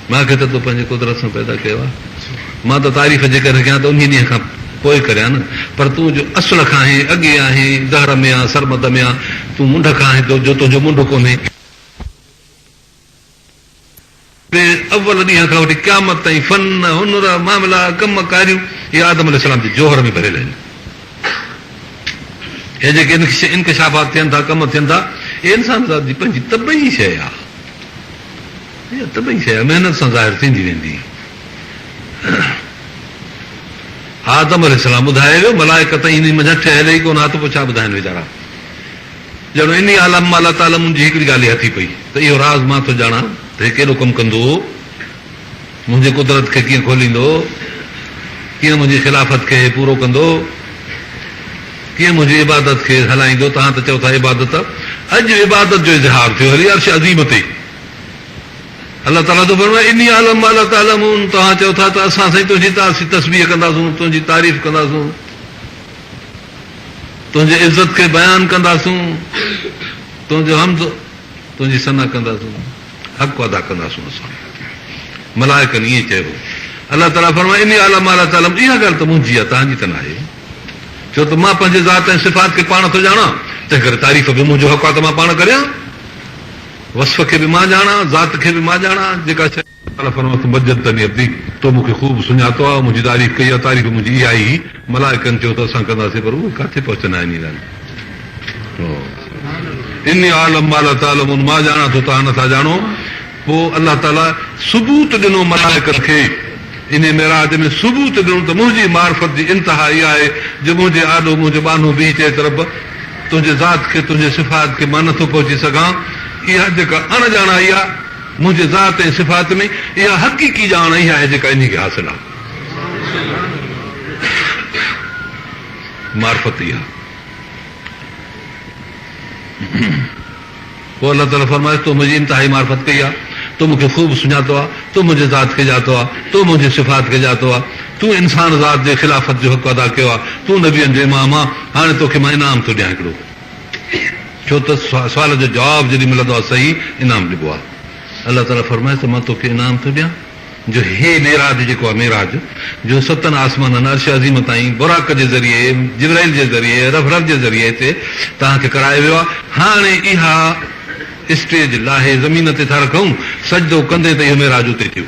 مان کي ته تو پنهنجي قدرت سان پيدا ڪيو آهي. مان ته تعريف جيڪڏهن ڪيان ته انهيء ڏينهن کان پوء ڪريان نه، پر تون جو اصل کان آهين، اڳي آهين، ظهر ۾ يا سرمد ۾ آهين، تون منڍ کان آهين، جو تنهنجو منڍ ڪونهي. تنهن اول ڏينهن کان وٺي قيامت تائين فن، هنر، معاملا، ڪم ڪاريون، اهي آدم عليه السلام جي جوهر ۾ ڀريل آهن. هي جيڪي انڪشافات ٿين ٿا، ڪم ٿين ٿا، هي انسان ذات جي پنهنجي طبعي شيء آهي. اها طبعي شيء آهي، محنت سان ظاهر ٿيندي ويندي. آدم عليه السلام ٻڌائي ويو، ملائڪ تائين انهي منجهان ٺهيل ئي ڪونه ها ته پوء ڇا ٻڌائين ويچارا. ڄڻ انهي عالم مان الله تعاليٰ منهنجي هڪڙي ڳالهه ئي هٿي پئي ته اهو راز مان ٿو ڄاڻان ته هي ڪيڏو ڪم ڪندو هو. منهنجي قدرت کي ڪيئن کوليندو؟ ڪيئن منهنجي خلافت کي هي پورو ڪندو؟ ڪيئن منهنجي عبادت کي هلائيندو؟ توهان ته چئو ٿا عبادت اڄ عبادت جو اظهار ٿيو هلي عرش عظيم تي الله تعالي ٿو فرمائي اني اعلم ما لا تعلمون توهان چئو ٿا ته اسان سائين تنهنجي تسبيح ڪنداسون تنهنجي تعريف ڪنداسون تنهنجي عزت کي بيان ڪنداسون تنهنجو حمد تنهنجي ثنا ڪنداسون حق ادا ڪنداسون اسان ملائڪن ائين چئي هو الله تعالي فرمايو اني اعلم ما لا تعلمون اها ڳالهه ته منهنجي آهي توهان جي ته ناهي ڇو ته مان پنهنجي ذات ۽ صفات کي پاڻ ٿو ڄاڻان تنهن ڪري تعريف به منهنجو حق آهي ته مان پاڻ ڪريان وصف کي به مان ڄاڻان ذات کي به مان ڄاڻان جيڪا شيء الله فرمايو ته مجدتني عبدي تو مون کي خوب سڃاتو آهي منهنجي تعريف ڪئي آهي تعريف منهنجي اها ئي هئي. ملائڪن چيو ته اسان ڪنداسين پر اهي ڪاٿي پهچندا آهن ايمان اني اعلم ما لا تعلمون مان ڄاڻان ٿو توهان نٿا ڄاڻو پوء الله تعالي ثبوت ڏنو ملائڪن کي اني معراج ۾ ثبوت ڏنو ته منهنجي معرفت جي انتها اها آهي جو منهنجي آڏو منهنجو ٻانهو بيهي چئي ته رب تنهنجي ذات کي تنهنجي صفات کي مان نٿو پهچي سگهان اها جيڪا اڻ ڄاڻائي آهي منهنجي ذات ۽ صفات ۾ اها حقيقي ڄاڻ اها آهي جيڪا اني کي حاصل آهي. معرفت ئي آ. پوء الله تعاليٰ فرمائيس، تو منهنجي انتهائي معرفت ڪئي آ، تو مون کي خوب سڃاتو آ، تو منهنجي ذات کي ڄاتو آ، تو منهنجي صفات کي ڄاتو آ، تون انسان ذات جي خلافت جو حق ادا ڪيو آ، تون نبين جو امام آ، هاڻي تو کي مان انعام ٿو ڏيان هڪڙو. ڇو ته سوال جو جواب جيڏي ملندو آ صحيح انعام ڏبو آ. الله تعاليٰ فرمائيس ته مان تو کي انعام ٿو ڏيان. جو هي معراج جيڪو آهي معراج جو ستن آسمانن عرش عظيم تائين براق جي ذريعي جبرائيل جي ذريعي رف رف جي ذريعي هتي توهان کي ڪرايو ويو آهي هاڻي اها اسٽيج لاهي زمين تي ٿا رکون سجدو ڪندي ته اهو معراج اتي ٿيو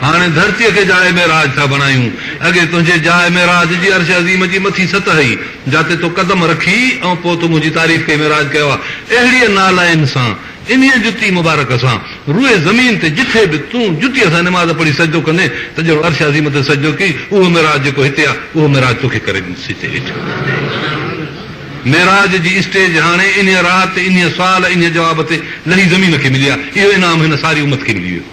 هاڻي ڌرتي کي جاء معراج ٿا بڻايون اڳي تنهنجي جاء معراج جي عرش عظيم جي مٿي سطح هئي جاتي تو قدم رکي ۽ پوء تو منهنجي تعريف ڪئي معراج ڪيو آهي اهڙيء نالائن سان انهيء جتي مبارڪ سان روئي زمين تي جتي به تون جتيء سان نماز پڙهي سجدو ڪندين ته جهڙو عرش عظيم تي سجدو ڪئي اهو معراج جيڪو هتي آ اهو معراج توکي ڪري ڏيندس هتي هيٺ معراج جي اسٽيج هاڻي انهيء رات انهيء سوال انهيء جواب تي لهي زمين کي ملي آ اهو انعام هن ساري امت کي ملي ويو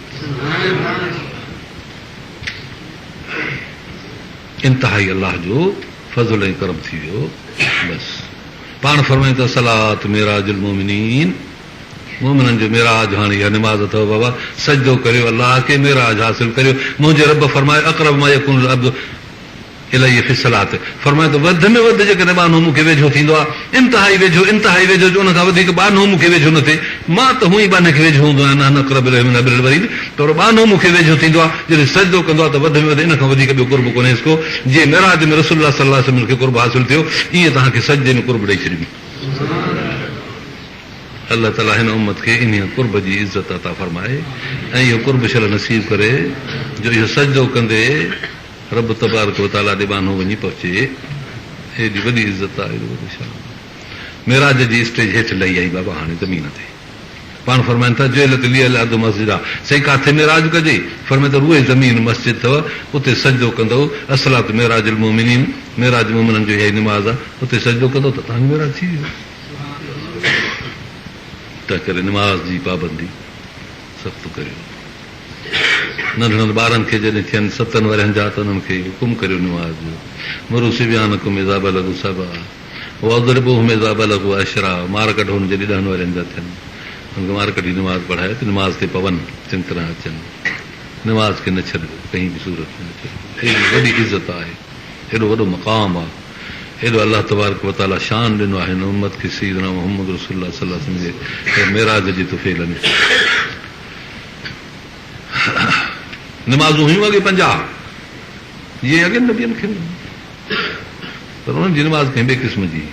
انتهائي الله جو فضل ۽ ڪرم ٿي ويو بس. پاڻ فرمائين ته الصلوة معراج المومنين، مومنن جو معراج هاڻي اها نماز اٿئو بابا، سجدو ڪريو الله کي، معراج حاصل ڪريو، منهنجي رب فرمايو اقرب ما يكون العبد الي في الصلوة فرمايو ته وڌ ۾ وڌ جيڪڏهن ٻانهو مون کي ويجهو ٿيندو آهي، انتهائي ويجهو، انتهائي ويجهو جو ان کان وڌيڪ ٻانهو مون کي ويجهو نه ٿئي، مان ته هونئن ئي ٻانهي کي ويجهو هوندو آهيان نحن اقرب اليه من حبل الوريد. قربانو مون کي ويجهو ٿيندو آهي، جڏهن سجدو ڪندو آهي ته وڌ ۾ وڌ ان کان وڌيڪ ٻيو قرب ڪونهيس ڪو، جيئن معراج ۾ رسول الله صلي الله عليه وسلم کي قرب حاصل ٿيو، ائين توهان کي سجدي ۾ قرب ڏئي ڇڏيم. الله تعالي هن امت کي انهيء قرب جي عزت عطا فرمائي ۽ اهو قرب شرح نصيب ڪري جو اهو سجدو ڪندي رب تبارڪ و تعالي ڏي ٻانهو وڃي پهچي. ايڏي وڏي عزت آهي، ايڏو وڏو شان آهي. معراج جي اسٽيج هيٺ لهي آئي بابا هاڻي زمين تي. پاڻ فرمائن ٿا، جعلت لي الارض مسجدا، سائين ڪاٿي معراج ڪجي؟ فرمائن ٿا، روئي زمين مسجد ٿئو، اتي سجدو ڪندؤ، الصلوة معراج المؤمنين، معراج مؤمنن جو اها ئي نماز آ، اتي سجدو ڪندؤ ته توهان جو معراج ٿي ويو. تنهنڪري نماز جي پابندي سخت ڪريو. ننڍڙن ٻارن کي جڏهن ٿين ستن ورهين جا ته انهن کي حڪم ڪريو نماز جو، مرو صبيانکم اذا بلغوا سبعا. واضربوهم اذا بلغوا عشرا مار ڪڍو انهن جي جڏهن ڏهن ورهين جا ٿين. انهن کي مار ڪڍي نماز پڙهايو ته نماز تي پون، چڱي طرح اچن. نماز کي نه ڇڏبو، ڪنهن به صورت ۾ نه ڇڏبو. ايڏي وڏي عزت آهي، ايڏو وڏو مقام آ، ايڏو الله تبارڪ و تعاليٰ شان ڏنو آهي هن امت کي سيدنا محمد رسول الله صلي الله عليه وسلم جي معراج جي طفيل ۾. نمازون هيون اڳي پنجاهه، جيئن اڳين نبين کي هيون. پر انهن جي نماز ڪنهن ٻئي قسم جي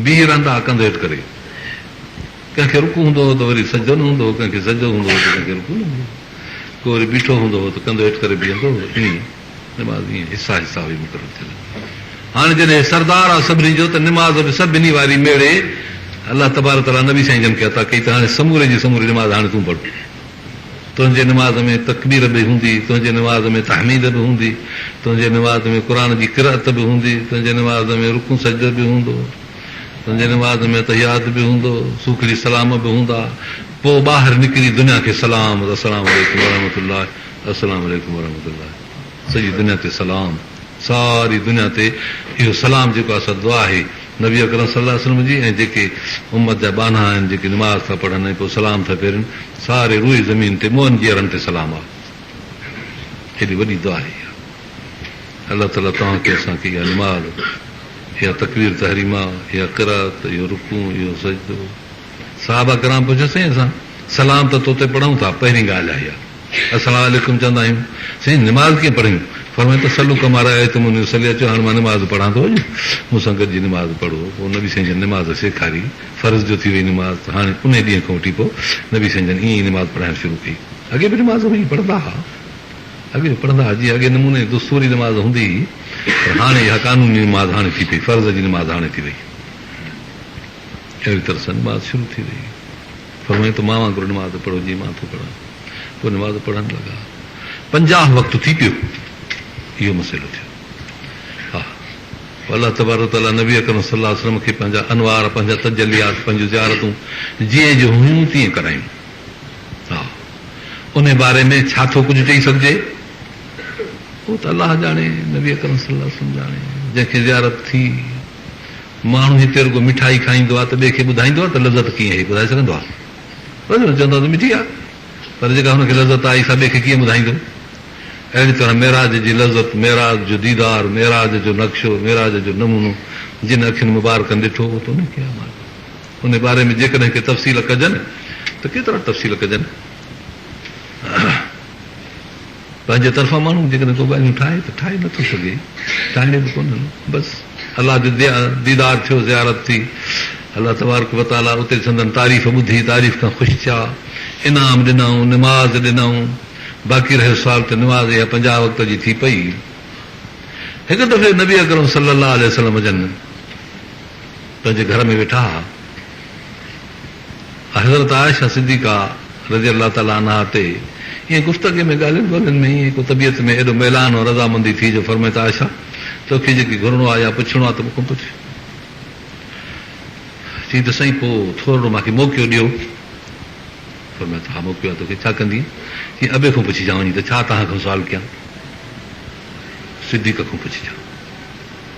بيهي رهندا هئا ڪنڌ هيٺ ڪري. ڪنهن کي رڪوع هوندو هو ته وري سجدو نه هوندو هو، ڪنهن کي سجدو هوندو هو ته ڪنهن کي رڪوع نه هوندو هو. ڪو وري بيٺو هوندو هو ته ڪنڌ هيٺ ڪري بيهندو هو. ائين نماز ائين حصا حصا هئي مقرر ٿيل. هاڻي جڏهن هي سردار آ سڀني جو ته نماز به سڀني واري ميڙي الله تبارڪ تعاليٰ نبي سائين جن کي عطا ڪئي ته هاڻي سموري جي سموري نماز هاڻي تون پڙهه. تنهنجي نماز ۾ تڪبير به هوندي، تنهنجي نماز ۾ تحميد به هوندي، تنهنجي نماز ۾ قرآن جي قرأت به هوندي، تنهنجي نماز ۾ رڪوع سجدو به هوندو، تنهنجي نماز ۾ تحيات به هوندو، سوکڙي سلام به هوندا، پوء ٻاهر نڪري دنيا کي سلام، السلام عليڪم ورحمة الله، السلام عليڪم ورحمة الله، سڄي دنيا تي سلام. ساري دنيا تي اهو سلام جيڪو آهي سا دعا آهي نبي اڪرم صلي الله عليه وسلم جي ۽ جيڪي امت جا ٻانها آهن جيڪي نماز ٿا پڙهن ۽ پوء سلام ٿا ڦيرين ساري روئي زمين تي مؤن جي اڙن تي سلام آهي ڪيڏي وڏي دعا آهي اها الله تعالي توهان کي اسان کي اها نماز اها تڪبير تحريمه اها قرات اهو رڪوع اهو سجدو صحابه ڪرام پڇيو، سائين اسان سلام ته توتي پڙهون ٿا، پهرين ڳالهه اهائي آهي. السلام عليڪم چوندا آهيون. سائين نماز ڪيئن پڙهيون؟ فرمايو ته صلو ڪما رايتموني اصلي اچو هاڻ مان نماز پڙهان ٿو اڄ مون سان گڏجي نماز پڙهو. پوء نبي سائين جن نماز سيکاري. فرض جو ٿي وئي نماز ته هاڻي انهي ڏينهن کان وٺي پوء نبي سائين جن ائين ئي نماز پڙهائڻ شروع ڪئي. اڳي به نماز هئي پڙهندا ها. اڳي به پڙهندا ها. جيئن اڳي نموني جي دستوري نماز هوندي هئي پر هاڻي اها قانوني نماز هاڻي ٿي پئي. فرض جي نماز هاڻي ٿي وئي. اهڙي طرح سان نماز شروع ٿي ويئي. فرمايائين ته مان وانگر نماز پڙهو جيئن مان ٿو پڙهان. پوء نماز پڙهڻ لڳا. پنجاهه وقت ٿي پيو. اهو مسئلو ٿيو. ها پوء الله تبارڪ و تعاليٰ نبي اڪرم صلي الله عليه وسلم کي پنهنجا انوار، پنهنجا تجليات، پنهنجون زيارتون جيئن جو هيون تيئن ڪرايون. ها انهي باري ۾ ڇا ٿو ڪجهه چئي سگهجي؟ اهو ته الله ڄاڻي، نبي اڪرم صلي الله عليه وسلم ڄاڻي. جنهن کي زيارت ٿي. ماڻهو هتي رڳو مٺائي کائيندو آهي ته ٻئي کي ٻڌائيندو آهي ته لذت ڪيئن هئي، ٻڌائي سگهندو آهي؟ بس هن چوندو آهي ته مٺي آهي پر جيڪا هن کي لذت آئي سا ٻئي کي ڪيئن ٻڌائيندو؟ اهڙي طرح معراج جي لذت، معراج جو ديدار، معراج جو نقشو، معراج جو نمونو جن اکين مبارڪن ڏٺو هو ته انهي کي امان ڏنو. انهي باري ۾ جيڪڏهن ڪي تفصيل ڪجن ته ڪيترا تفصيل ڪجن. پنهنجي طرفان ماڻهو جيڪڏهن ڪو ڳالهيون ٺاهي ته ٺاهي نٿو سگهي، ٺاهڻيون به ڪونهن. بس الله جو ديدار ٿيو، زيارت ٿي، الله تبارڪ و تعاليٰ اتي سندن تعريف ٻڌي، تعريف کان خوش ٿيا، انعام ڏنائون، نماز ڏنائون، باقي رهيو سوال ته نماز اها پنجاهه وقت جي ٿي پئي. هڪ دفعي نبي اڪرم صلي الله عليه وسلم جن پنهنجي گهر ۾ ويٺا ها. حضرت عائشه صديقه رضي الله تعالٰي عنها تي ائين گفتگي ۾ ڳالهين ٻولهين ۾ ائين ڪو طبيعت ۾ ايڏو ميلان ۽ رضامندي ٿي جو فرمائي ته عائشه! توکي جيڪي گهرڻو آهي يا پڇڻو آهي ته مون کان پڇ. چيائين ته سائين پوء ٿورڙو مانکي موقعو ڏيو. فرمايو ته ها موقعو آهي توکي ڇا ڪندينء؟ چيائين ابي کان پڇجان وڃي ته ڇا توهان کان سوال ڪيان؟ صديقه کان پڇجان.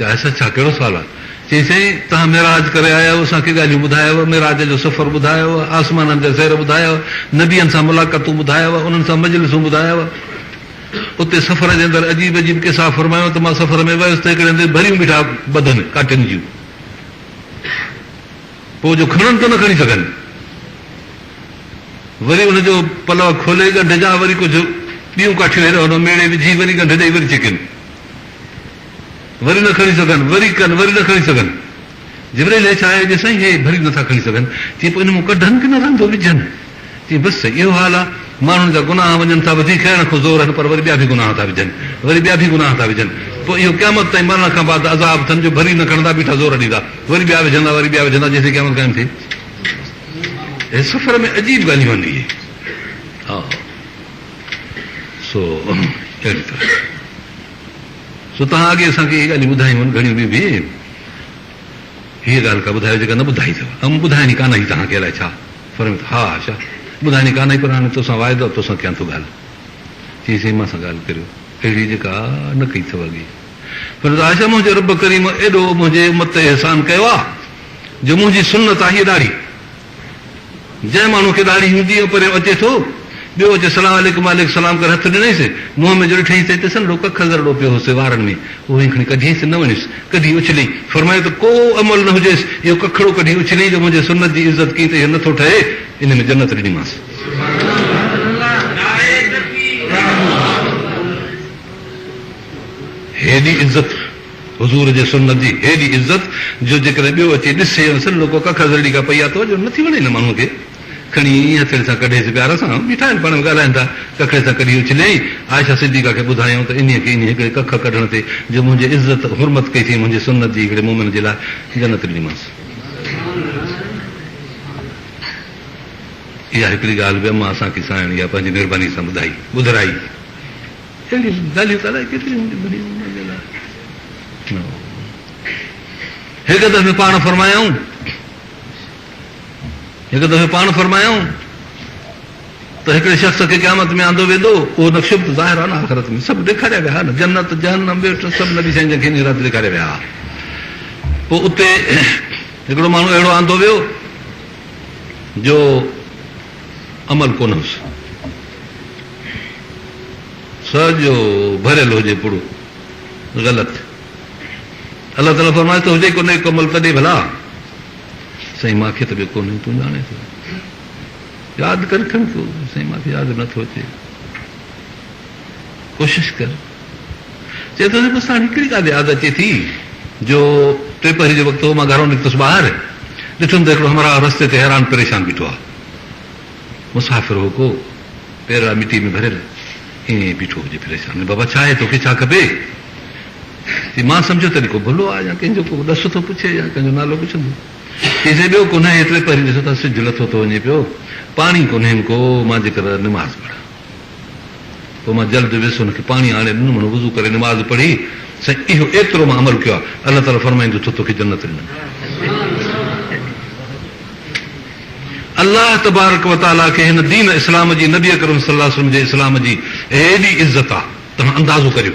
يا حسد ڇا ڪهڙو سوال آهي؟ چيائين سائين توهان معراج ڪري آيا آهيو اسان کي ڳالهيون ٻڌايو معراج جو سفر ٻڌايو آسمانن جا سير ٻڌايا نبين سان ملاقاتون ٻڌايا انهن سان مجلسون ٻڌايا اتي سفر جي اندر عجيب عجيب قصا فرمايو ته مان سفر ۾ ويس ته هڪڙي هنڌ ڀريون بيٺا ٻڌن ڪاٽين جون پوء جو کڻن ته نه کڻي سگهن وري ان جو پلو کولي ڳنڍ جا وري ڪجهه ٻيون ڪاٺيون هيڏانهن هوڏانهن ميڙي وجهي وري ڳنڍ ڏئي وري ڇڪين وري نه کڻي سگهن، وري ڪن، وري نه کڻي سگهن. جبرائيل هيٺ آيو، چيس، سائين هي ڀري نٿا کڻي سگهن. چي پوء ان مون ڪڍن ڪنه رندو وجهن؟ چي بس سائين اهو حال آ، ماڻهن جا گناهه وڃن ٿا وڌي، کڻڻ کان زور آهن پر وري ٻيا به گناهه ٿا وجهن، وري ٻيا به گناهه ٿا وجهن، پوء اهو قيامت تائين مرڻ کان بعد عذاب اٿن جو ڀري نه کڻندا بيٺا زور ڏيندا، وري ٻيا وجهندا، وري ٻيا وجهندا جيسين قيامت قائم ٿئي. هي سفر ۾ عجيب ڳالهيون آهن اهي. ها سو اهڙي طرح. سو توهان اڳي اسان کي اهي ڳالهيون ٻڌايون آهن گهڻيون به به هيء ڳالهه ڪا ٻڌايو جيڪا نه ٻڌائي اٿو ۽ مون ٻڌائڻي ڪانه هئي توهان کي الائي ڇا فرمي ٿو ها ها شاهه ٻڌائڻي ڪانه هئي پر هاڻي توسان واعدو آهي توسان ڪيان ٿو ڳالهه چيائين سائين مان سان ڳالهه ڪريو اهڙي جيڪا نه ڪئي اٿو اڳي فرمي ٿو ها شاهه منهنجي رب ڪريم ايڏو منهنجي امت تي احسان ڪيو آهي جو منهنجي سنت آهي هيء ڏاڙهي جنهن ماڻهو کي ڏاڙهي هوندي هئي، پريو اچي ٿو، ٻيو اچي سلام عليڪم وعليڪم سلام ڪري هٿ ڏنيس، منهن ۾ جو ڏٺئينس ته هتي سنهڙو ڪک ڳرڙو پيو هوس وارن ۾، اهو ئي کڻي ڪڍيس، نه وڻيس، ڪڍي اڇليئي، فرمايو ته ڪو عمل نه هجيس، اهو ڪکڙو ڪڍي اڇليئي جو منهنجي سنت جي عزت ڪئين ته اهو نه ٿو ٺهي، ان ۾ جنت ڏنيمانس. هيڏي عزت! حضور جي سنت جي هيڏي عزت جو جيڪڏهن ٻيو اچي ڏسي ۽ سڏ لوڪو ڪک هزڙڙي کان پئي آ توجهه نه ٿي وڻي هن ماڻهوء کي کڻي ائين هٿيڙي سان ڪڍيس پيار سان بيٺا آهن پاڻ ۾ ڳالهائين ٿا ڪکڙي سان ڪڍي اڇليائين عائشه صديقه کي ٻڌايائون ته انهيء کي انهي هڪڙي ڪک ڪڍڻ تي جو منهنجي عزت حرمت ڪئي ٿئي منهنجي سنت جي هڪڙي مومن جي لاء جنت ڏنيمانس. اها هڪڙي ڳالهه به اما اسان کي سائڻ اها پنهنجي مهرباني سان ٻڌائي ٻڌرائي. اهڙيون ڳالهيون ته الائي ڪيتريون هونديون ٻڌي انهن جي لاء نه هو. هڪ دفعي پاڻ فرمايائون هڪ دفعي پاڻ فرمايائون ته هڪڙي شخص کي قيامت ۾ آندو ويندو اهو نقشو ته ظاهر آهي نه آخرت ۾ سڀ ڏيکاريا ويا نه جنت جهنم ٻيٽ سڀ نبي سائين جن کي انهي رات ڏيکاريا ويا هئا پوء اتي هڪڙو ماڻهو اهڙو آندو ويو جو عمل ڪونه هوس. سڄو ڀريل هجي پڙو غلط. الله تعاليٰ فرمائيس ته هجي ڪو نيڪ عمل ته ڏي ڀلا. سائين مان کي ته ٻيو ڪونهي تون ڄاڻين ٿو. ياد ڪر کڻ ڪو سائين مان کي ياد نه ٿو اچي. ڪوشش ڪر. چئي ٿو ته بس هاڻي هڪڙي ڳالهه ياد اچي ٿي جو ٽي پهري جو وقت هو، مان گهران نڪتس ٻاهر، ڏٺم ته هڪڙو همراهه رستي تي حيران پريشان بيٺو آ. مسافر هو ڪو، پيرڙا مٽيء ۾ ڀريل، ائين ئي بيٺو هجي پريشان. اڙي بابا ڇا آهي توکي ڇا کپي؟ چي مان سمجهيو ته اڙي ڪو ڀلو آ يا ڪنهن جو ڪو ڏس ٿو پڇي يا ڪنهن جو نالو پڇندو. چيس اڙي ٻيو ڪونه هي ٽي پهري ڏسو ٿا سج لٿو ٿو وڃي پيو، پاڻي ڪونهين ڪو، مان جيڪر نماز پڙهان. پوء مان جلد ويس هن کي پاڻي آڻي ڏنم، هن وضو ڪري نماز پڙهي، سائين اهو ايترو مان عمل ڪيو آهي، الله تعاليٰ فرمائيندو ٿو توکي جنت ڏنم. الله تبارڪ و تعاليٰ کي هن دين اسلام جي نبي اڪرم صلي الله عليه وسلم جي اسلام جي ايڏي عزت آهي توهان اندازو ڪريو.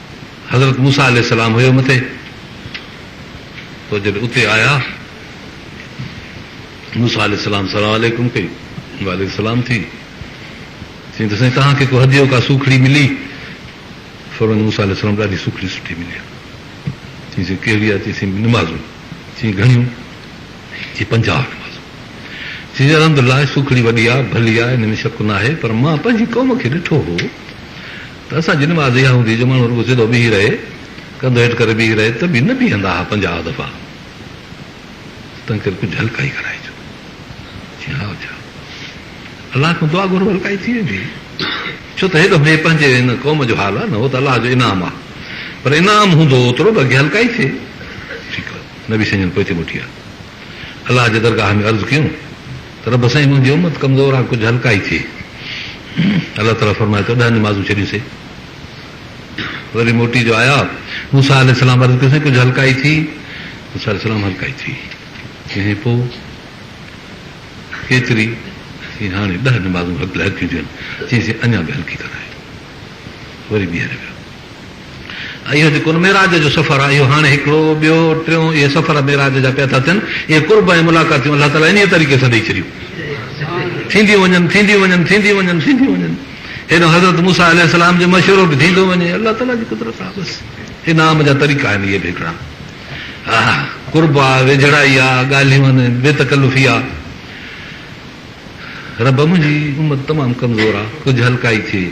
حضرت موسيٰ عليه السلام هيو مٿي، پوء جڏهن اتي آيا، موسيٰ عليه السلام سلام عليڪم ڪئي، وعليڪم السلام ٿي، چيائين ته سائين توهان کي ڪو هديو، ڪا سوکڙي ملي؟ فرمايائين موسيٰ عليه السلام ڏاڍي سوکڙي سٺي ملي آهي، چيائين سي ڪهڙي آهي؟ چيائين نمازون، چيائين گهڻيون؟ چيائين پنجاهه نمازون، چيائين الحمدلله سوکڙي وڏي آهي، ڀلي آهي، ان ۾ شڪ ناهي، پر مان پنهنجي قوم کي ڏٺو هو، ته اسان جي نماز اها هوندي جو ماڻهو رڳو سڌو بيهي رهي، ڪنڌ هيٺ ڪري بيهي رهي ته به نه بيهندا ها پنجاهه دفعا، تنهن ڪري ڪجهه هلڪائي ڪرائجو. چيائين ها اچا الله کان دعا گهرو هلڪائي ٿي ويندي، ڇو ته هيڏو هي پنهنجي هن قوم جو حال آ نه هو ته الله جو انعام آ پر انعام هوندو اوترو به اڳي هلڪائي ٿئي. ٺيڪ آ نبي سڃڻ پوئتي موٽي آ. الله جي درگاهه ۾ عرض ڪيون ته رب سائين منهنجي امت ڪمزور آ ڪجهه هلڪائي ٿئي الله تعالي فرمايو ته ڏهه نمازون ڇڏيون سي وري موٽي جو آيا موسا عليه السلام عرض ڪيو سائين ڪجهه هلڪائي ٿي موسا عليه السلام هلڪائي ٿي ڪنهن پو ڪيتري ٿي هاڻي ڏهه نمازون هلڪيون ٿيون چئين سي اڃا به هلڪي ڪرائي وري ٻيهر ويا اهو جيڪو ان معراج جو سفر آهي، اهو هاڻي هڪڙو، ٻيو، ٽيون، اهي سفر معراج جا پيا ٿا ٿين، اهي قرب ۽ ملاقاتيون الله تعاليٰ انهيء طريقي سان ڏئي ڇڏيون. ٿينديون وڃن، ٿينديون وڃن، ٿينديون وڃن، ٿينديون وڃن. هيڏانهن حضرت موسيٰ عليه السلام جو مشورو به ٿيندو وڃي، الله تعاليٰ جي قدرت آهي بس. انعام جا طريقا آهن اهي به هڪڙا. آهه، قرب آ، ويجهڙائي آ، ڳالهيون آهن بي تڪلفي آ. رب منهنجي امت تمام ڪمزور آ، ڪجهه هلڪائي ٿئي.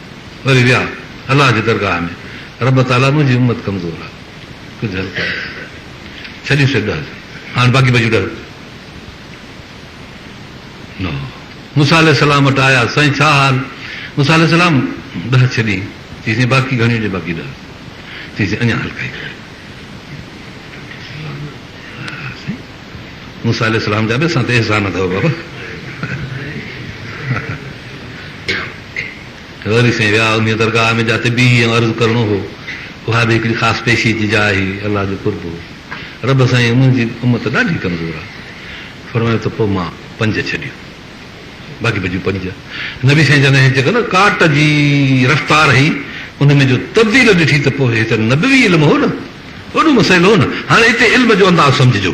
وري ويا الله جي درگاهه ۾، رب تعاليٰ منهنجي امت ڪمزور آ، ڪجهه هيلپ ڪر، ڇڏيون سي ڏهه هاڻ باقي بچيون ڏهه روپيا، نو موسيٰ عليه السلام وٽ آيا، سائين ڇا حال، موسيٰ عليه السلام ڏهه ڇڏي، چيسين باقي گهڻيون ڏي باقي ڏهه، چيسين اڃا هلڪائي ڪر. موسيٰ عليه السلام جا به اسان تي احسان اٿو بابا. وري سائين ويا انهيء درگاهه ۾ جاتي بيهي ۽ عرض ڪرڻو هو، اها به هڪڙي خاص پيشي جي جاء هئي، الله جو قرب هو. رب سائين انهن جي امت ڏاڍي ڪمزور آهي. فرمايو ته پوء مان پنج ڇڏيو. باقي بچيون پنج. نبي سائين جن هي جيڪا نه ڪاٽ جي رفتار هئي، ان ۾ جو تبديل ڏٺي ته پوء هي ته نبوي علم هو نه. وڏو مسئلو هو نه. هاڻي هتي علم جو انداز سمجهجو.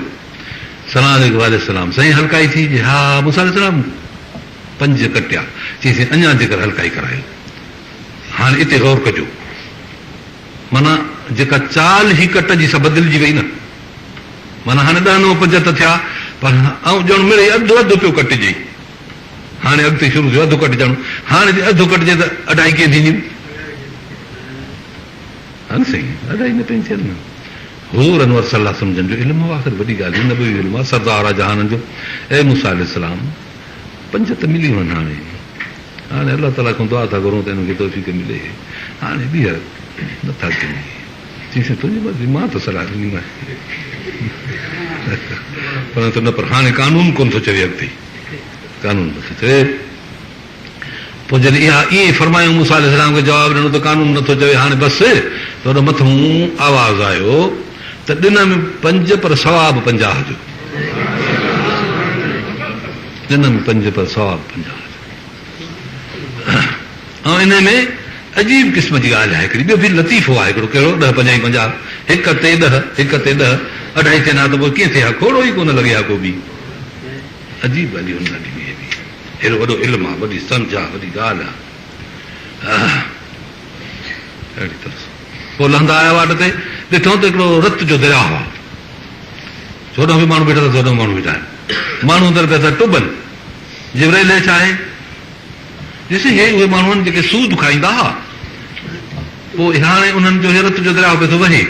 سلام عليڪم وعليڪم السلام سائين هلڪائي ٿي جي ها موسيٰ عليه السلام پنج ڪٽيا چيس اڃا جيڪر هلڪائي ڪرايو هاڻي اتي غور ڪجو معنيٰ جيڪا چال هي ڪٽ جي سا بدلجي وئي نه معنيٰ هاڻي ڏهه نو پنج ته ٿيا پر آئون ڄڻ مڙئي اڌ اڌ پيو ڪٽجي هاڻي اڳتي شروع ٿيو اڌ ڪٽجڻ هاڻي جي اڌ ڪٽجي ته اڍائي ڪئين ٿينديون هان سائين ادا ان پين چيل نه حور انور صلي الله سمجهن جو علم هو آخر وڏي ڳالهه نبوي علم آ سردار آ جهانن جو اي موسي عليه السلام پنج ته ملي وين هاڻي هاڻي الله تعالي کان دعا ٿا گهرون ته انهن کي توفيق ملي هاڻي ٻيهر نه ٿا ڪن چيس سائين تنهنجي مرضي مان ته صلاح ڏني مانس پر نه پر هاڻي قانون ڪون ٿو چوي اڳتي قانون نه ٿو چوي پوء جڏهن اها ائين فرمايائون، موسيٰ عليه السلام کي جواب ڏنو ته قانون نه ٿو چوي هاڻي بس، ته ان مٿئون آواز آيو ته ڏنم پنج پر ثواب پنجاهه جو. ڏنم پنج پر ثواب پنجاهه جو. ۽ انهي ۾ عجيب قسم جي ڳالهه آهي هڪڙي، ٻيو به لطيفو آهي هڪڙو، ڪهڙو، ڏهه پنجائي پنجاهه، هڪ تي ڏهه، هڪ تي ڏهه، اڍائي چئن ها ته پوء ڪيئن ٿئي ها، کوڙو ئي ڪونه لڳي ها ڪو به. عجيب ڳالهيون آهن ڏاڍيون اهي به. هيء وڏو علم آ، وڏي سمجهه آ، وڏي ڳالهه آ. اهڙي طرح سان هو لهندا آيا واٽ تي ڏٺائون ته هڪڙو رت جو درياء هو. هوڏانهن به ماڻهو بيٺا تن، هوڏانهن به ماڻهو بيٺا آهن. ماڻهو اندر پيا ٿا ٽٻن. جبرائيل هيٺ آهي. ڏسي هي اهي ماڻهو آهن جيڪي سود کائيندا هئا. پوء هاڻي انهن جو هيرت جو درياء پئي ٿو وهي.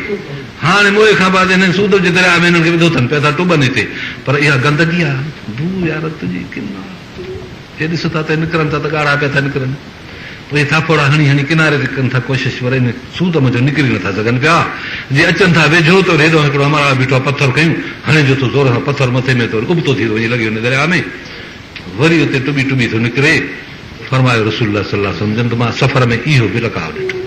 هاڻي موئي کان بعد انهن سوڌو جي درياء ۾ انهن کي وڌو اٿن، پيا ٿا ٽٻن هتي. پر اها گندگي آ، بوء آ، رت جي ڪن آ. هي ڏس ٿا ته هي نڪرن ٿا ته ڳاڙها پيا ٿا نڪرن. پوء هي ٿاڦوڙا هڻي هڻي ڪناري تي ڪن ٿا ڪوشش پر ان سوڌ منجهو نڪري نه ٿا سگهن پيا. جي اچن ٿا ويجهو ته وري هيڏانهن هڪڙو امڙاء بيٺو آ، پٿر کنيون هڻي جو ٿو زور سان پٿر مٿي ۾ ته وري ابتو ٿي ٿو وڃي لڳي وڃي درياء ۾. وري اتي ٽٻي ٽٻي ٿو نڪري، فرمايو رسول الله صلي الله عليه وسلم جن ته مان سفر ۾ اهو به لقاء ڏٺو.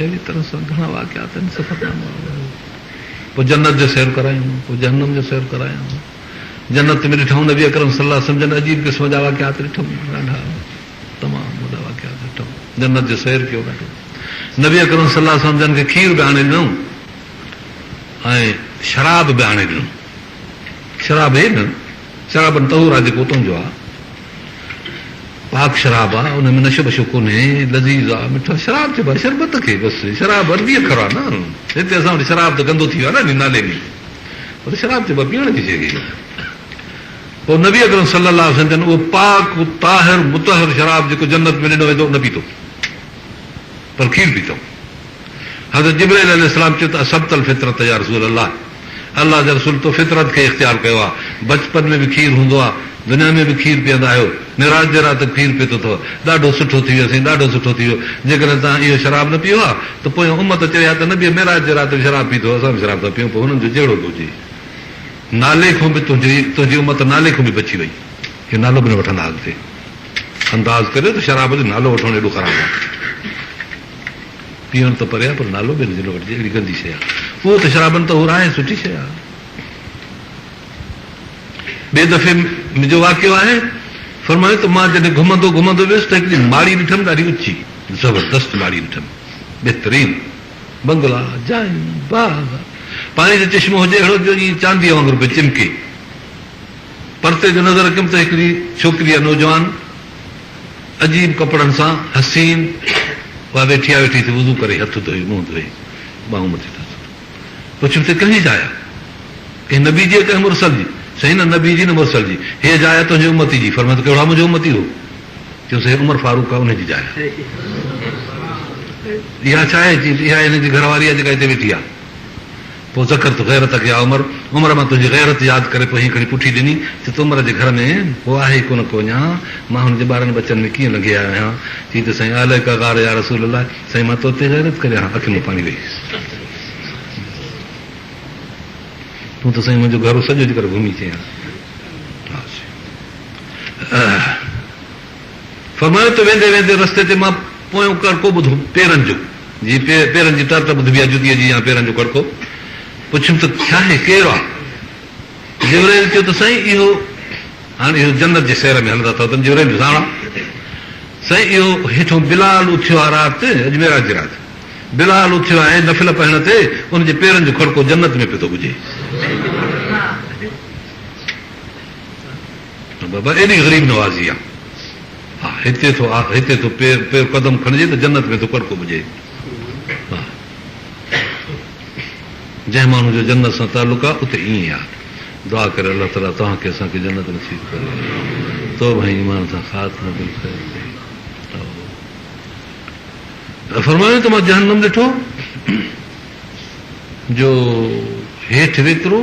اهڙي طرح سان گهڻا واقعات آهن سفر نامه پوء جنت جو سير ڪرايائون پوء جهنم جو سير ڪرايائون جنت ۾ ڏٺائون نبي اڪرم صلي الله عليه وسلم جن عجيب قسم جا واقعات ڏٺائون ڏاڍا تمام وڏا واقعات ڏٺم. جنت جي سير ڪيو ڏاڍو. نبي اڪرم صلي الله عليه وسلم جن کي کير به آڻي ڏنو ۽ شراب به آڻي ڏنو. شراب هي نه شرابن طهور آ جيڪو اتون جو آ. پاڪ شراب آ ان ۾ نشو بشو ڪونهي لذيذ آ مٺا شراب چئبو آ شربت کي بس شراب عربي اکر آ نه هتي اسان وٽ شراب ته گندو ٿي ويو آ نه نالي ۾ پر شراب چئبو آ پيئڻ جي شي کي. پوء نبي اڪرم صلّي اللّٰه عليه وسلّم جن اهو پاڪ طاهر مطهّر شراب جيڪو جنّت ۾ ڏنو ويندو نه پيتو پر کير پيتائون. حضرت جبرائيل عليه السّلام چيو ته اصبت الفطرة يا رسول الله، الله جي رسول تو فطرت کي اختيار ڪيو آهي، بچپن ۾ به کير هوندو آهي، دنيا ۾ به کير پيئندا آهيو، معراج جي رات به کير پيتو اٿو، ڏاڍو سٺو ٿي ويو سائين ڏاڍو سٺو ٿي ويو، جيڪڏهن توهان اهو شراب نه پيئو ها ته پويان امّت چوي ها ته نبي معراج جي رات به شراب پيتو هو اسان به شراب ٿا پيئون پوء هنن جو جهڙو به هجي. نالي کون به تنهنجي تنهنجي امت نالي کون به بچي وئي اهو نالو به نه وٺندا اڳتي انداز ڪريو ته شراب جو نالو وٺڻ ايڏو خراب آهي پيئڻ ته پري آهي پر نالو به ان جو نه وٺجي اهڙي گندي شيء آهي اهو ته شرابن طهور آهي سٺي شيء آهي ٻي دفعي منهنجو واقعو آهي فرمايو ته مان جڏهن گهمندو گهمندو ويس ته هڪڙي ماڙي ڏٺم ڏاڍي اچي زبردست ماڙي ڏٺم بهترين بنگلا، جايون، باغ، پاڻي جو چشمو هجي اهڙو جو جيئن چانديء وانگر پئي چمڪي. پرتي جو نظر رکيم ته هڪڙي ڇوڪري يا نوجوان عجيب ڪپڙن سان حسين اها ويٺي آ ويٺي ٿي وضو ڪري هٿ ڌوئي منهن ڌوئي ٻانهون مٿي ٿو ڇڪي. پڇيم ته ڪنهنجي جاء آ؟ ڪنهن نبي جي ڪنهن مرسل جي؟ سائين نه نبي جي نه مرسل جي هيء جاء آ تنهنجي امتي جي فرمايو ته ڪهڙو آ منهنجو امتي هو؟ چيوسين عمر فاروق آ انهي جي جاء اها ڇا آهي؟ چيس اها هن جي گهر واري آ جيڪا هتي ويٺي آ پوء ذڪرت غيرتک يا عمر عمر مان تنهنجي غيرت ياد ڪري پوء هيء کڻي پٺي ڏني چي تو عمر جي گهر ۾ ڪو آهي ئي ڪونه ڪو اڃا مان هن جي ٻارن ٻچن ۾ ڪيئن لنگهي آيو آهيان چيس ته سائين عليک غار يا رسول الله سائين مان توتي غيرت ڪريان ها اکين مان پاڻي وهي ويس تون ته سائين منهنجو گهرو سڄو جيڪر گهمي چيان ها سائين. اهه فرمايو ته ويندي ويندي رستي تي مان پويون ڪڙڪو ٻڌو، پيرن جو، جيئن پيرن جي ٽر ٽر ٻڌبي آهي، جتيء جي يا پيرن جو ڪڙڪو. پڇيم ته ڇاهي، ڪير آ؟ جبرائيل چيو ته سائين اهو، هاڻ اهو جنت جي سير ۾ هلندا اٿئو تن جبرائيل جو ساڻ آ، سائين اهو هيٺون بلال اٿيو آ رات، اڄ معراج جي رات، بلال اٿيو آ ۽ نفل پڙهڻ تي ان جي پيرن جو ڪڙڪو جنت ۾ پيو ٿو ٻجي. ته بابا ايڏي غريب نوازي آ، ها هتي ٿو آ هتي ٿو پير قدم کڻجي ته جنت ۾ ٿو ڪڙڪو ٻجي. ها جنهن ماڻهو جو جنت سان تعلق آ اتي ائين آ. دعا ڪري الله تعالي توهان کي اسان کي جنت نصيب ڪري. توبه ۽ ايمان سان خاتمو بالخير ٿئي. فرمايو ته مان جهنم ڏٺو جو هيٺ ويڪرو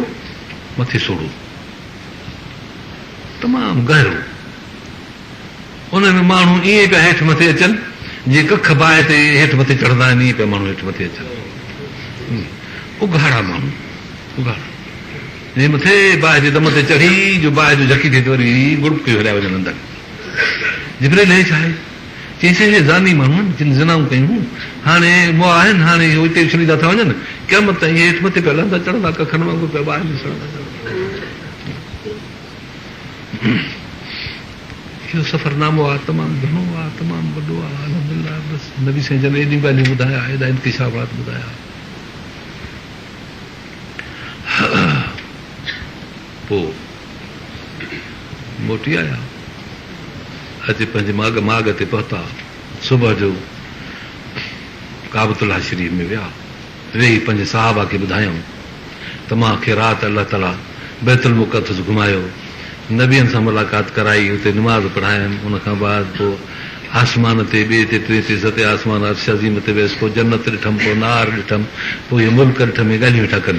مٿي سوڙهو. تمام گهرو. ان ۾ ماڻهو ائين پيا هيٺ مٿي اچن، جيئن ڪک باهه تي هيٺ مٿي چڙهندا آهن، ائين پيا ماڻهو هيٺ مٿي اچن. اگهاڙا ماڻهو، اگهاڙا، جي مٿي باهه جي دم تي چڙهي، جو باهه جو جهڪي ٿئي ته وري ڳڙٻڪيون هليا وڃن اندر. جبرئيل هي ڇا آهي؟ چيائين سي اهي زاني ماڻهو آهن جن زنائون ڪيون هيون، هاڻي مئا آهن، هاڻي اهي اتي ئي ڇڏيندا ٿا وڃن، قيامت تائين اهي هيٺ مٿي پيا لهندا چڙهندا، ڪکن وانگر پيا باهه ۾ سڙندا چڙهندا. اهو سفر نامو آ تمام گهڻو آ، تمام وڏو آ، الحمدلله بس نبي سائين جن ايڏيون ڳالهيون ٻڌايا، ايڏا انڪشافات ٻڌايا. پوء موٽي آيا. اچي پنهنجي ماڳ ماڳ تي پهتا. صبح جو ڪعبت الله شريف ۾ ويا. ويهي پنهنجي صحابه کي ٻڌايائون ته مان کي رات الله تعاليٰ بيت المقدس گهمايو، نبين سان ملاقات ڪرائي، اتي نماز پڙهايم، ان کان بعد پوء آسمان تي ٻئي تي ٽئين تي ستين آسمان عرش عظيم تي ويس، پوء جنت ڏٺم، پوء نار ڏٺم، پوء هي ملڪ ڏٺم، هي ڳالهيون ويٺا ڪن.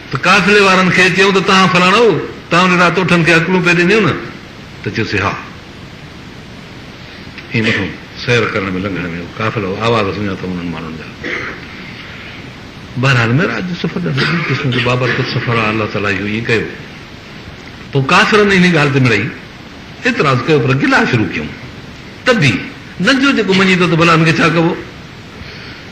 ته قافلي وارن کي چيائون ته تهان فلاڻو تانوري راء توٺن کي اڪلون پئي ڏينديون نه؟ ته چيوسين ها. ائين مٿو سير ڪرڻ ۾ لنگهڻ ۾ هو قافلو آواز سڃاتو انهن ماڻهن جا. بهرحال معراج جو سفر ڏاڍو عجيب قسم جو بابرڪت سفر آهي الله تعاليٰ اهو ائين ڪيو. پوء ڪافرن انهي ڳالهه تي مڙئي اعتراض ڪيو پر گلا شروع ڪيائون ته به نه جو جيڪو مڃي ٿو ته ڀلا هن کي ڇا ڪبو؟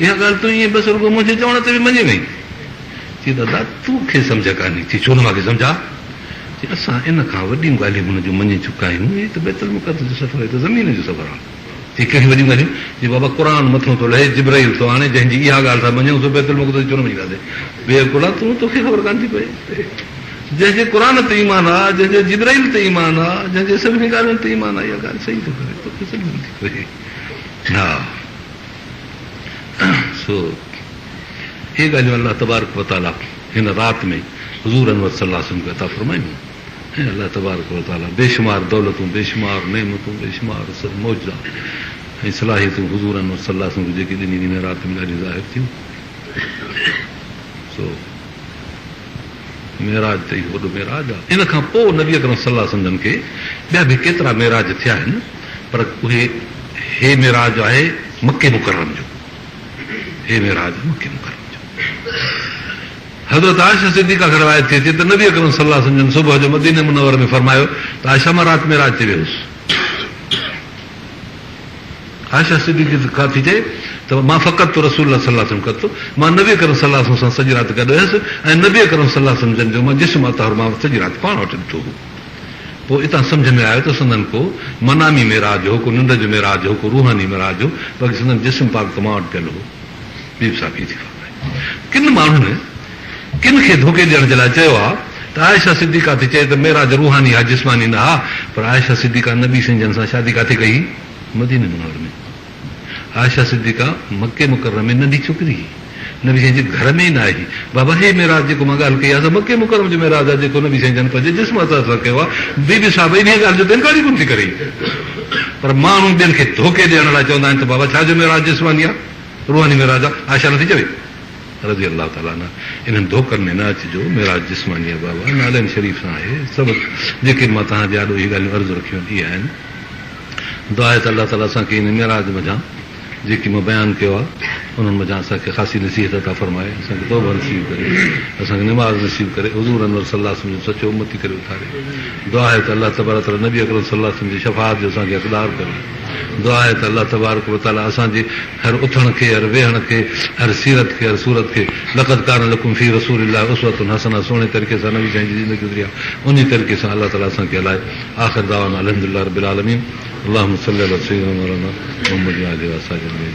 اها ڳالهه تون ائين بس رڳو منهنجي چوڻ تي به مڃي وئين؟ چي دادا تون کي سمجهه ڪانهي؟ چي ڇو نه مان کي سمجهه آ؟ چي اسان ان کان وڏيون ڳالهيون هن جون مڃي چڪا آهيون، هي ته بيت المقدس جو سفر، هي ته زمين جو سفر آهي. چي ڪهڙيون وڏيون ڳالهيون؟ چي بابا قرآن مٿو ٿو لهي، جبرئيل ٿو آڻي، جنهن جي اها ڳالهه ٿا مڃون، سو بيت المقدس ڇو نه مڃي ٿاسين؟ بي عقلا تون، توکي خبر ڪانه ٿي پئي. جنهن جي قرآن تي ايمان آ، جنهن جي جبرئيل تي ايمان آ، جنهن جي سڀني ڳالهين تي ايمان آ، اها ڳالهه صحيح ٿو ڪري، توکي سمجهه نٿي پئي. ها! سو اهي ڳالهيون الله تبارڪ و تعالي هن رات ۾ حضور انور صلي الله عليه وسلم کي عطا فرمايون هيون ۽ الله تبارڪ و تعالي بيشمار دولتون، بيشمار نعمتون، بيشمار سر معجزا ۽ صلاحيتون حضور انور صلي الله عليه وسلم کي جيڪي ڏنيون هن رات ۾ ڏاڍيون ظاهر ٿيون سو معراج ته اهو وڏو معراج آهي. ان کان پوء نبي اڪرم صلي الله عليه وسلم جن کي ٻيا به ڪيترا معراج ٿيا آهن پر اهي هي معراج آهي مڪي مڪرم جو هي معراج مڪي مڪرم جو حضرت عائشه صديقه کان روايت ٿئي ٿي ته نبي اڪرم صلي الله عليه وسلم جن صبح جو مدينه منوره ۾ فرمايو ته عائشه مان رات معراج تي ويهوس. عائشه صديقه تي ڪا ٿي چئي ته مان فقدت رسول الله صلي الله عليه وسلم قط مان نبي اڪرم صلي الله عليه وسلم سان سڄي رات گڏ هيس ۽ نبي اڪرم صلي الله عليه وسلم جن جو مان جسم اطهر مان سڄي رات پاڻ وٽ ڏٺو هو. پوء اتان سمجهه ۾ آيو ته سندن ڪو منامي معراج هو، ڪو ننڊ جو معراج هو، ڪو روحاني معراج هو، باقي سندن جسم پاڪ ته مان وٽ پيل هو. بيبي صاحب هي ٿي فرمائي ڪن ماڻهن ڪن کي ڌوڪي ڏيڻ جي لاء چيو آ ته عائشه صديقه ٿي چئي ته معراج روحاني ها جسماني نه ها پر عائشه صديقه نبي سين جن سان شادي ڪاٿي ڪئي هئي مديني منور ۾ عائشه صديقه مڪي مڪرم ۾ ننڍي ڇوڪري هئي نبي سين جي گهر ۾ ئي نه آئي هئي بابا هي معراج جيڪو مان ڳالهه ڪئي آ سا مڪي مڪرم جو معراج آ جيڪو نبي سين جن پنهنجي جسم اطهر سان ڪيو آ بي بي صاحبه انهيء ڳالهه جو ته انڪار ئي ڪونه ٿي ڪري پر ماڻهو ٻين کي ڌوڪي ڏيڻ لاء چوندا آهن ته بابا ڇا جو معراج جسماني آ روحاني معراج آ عائشه نه ٿي چوي. رضي الله تعالٰي عنه انهن ڌوڪن ۾ نه اچجو، معراج جسماني ابا ابا نالين شريف سان آهي، سڀ جيڪي مان توهان جي آڏو اهي ڳالهيون عرض رکيون اهي آهن، دعا هي ته الله تعالٰي اسان کي ان معراج منجهان جيڪي مان بيان ڪيو آهي انهن منجهان اسان کي خاصي نصيحت عطا فرمائي، اسان کي توبه نصيب ڪري، اسان کي نماز نصيب ڪري، حضور انور صلّي الله عليه وسلّم جو سچو امّتي ڪري اٿاري، دعا هي ته الله تبارڪ وتعالٰي نبي اڪرم صلّي الله عليه وسلّم جي شفاعت جو اسان کي حقدار ڪري، دعا هي ته الله تبارڪ وتعالٰي اسان جي. هر اٿڻ کي، هر ويهڻ کي، هر سيرت کي، هر صورت کي لقد ڪان لڪم في رسول الله اسوة حسنة سهڻي طريقي سان نبي سائين جي زندگي گذري آهي انهي طريقي سان الله تعالي اسان کي هلائي آخر دعوانا الحمد لله رب العالمين اللهم صل علي سيدنا مولانا محمد وآله وآصحابه اجمعين.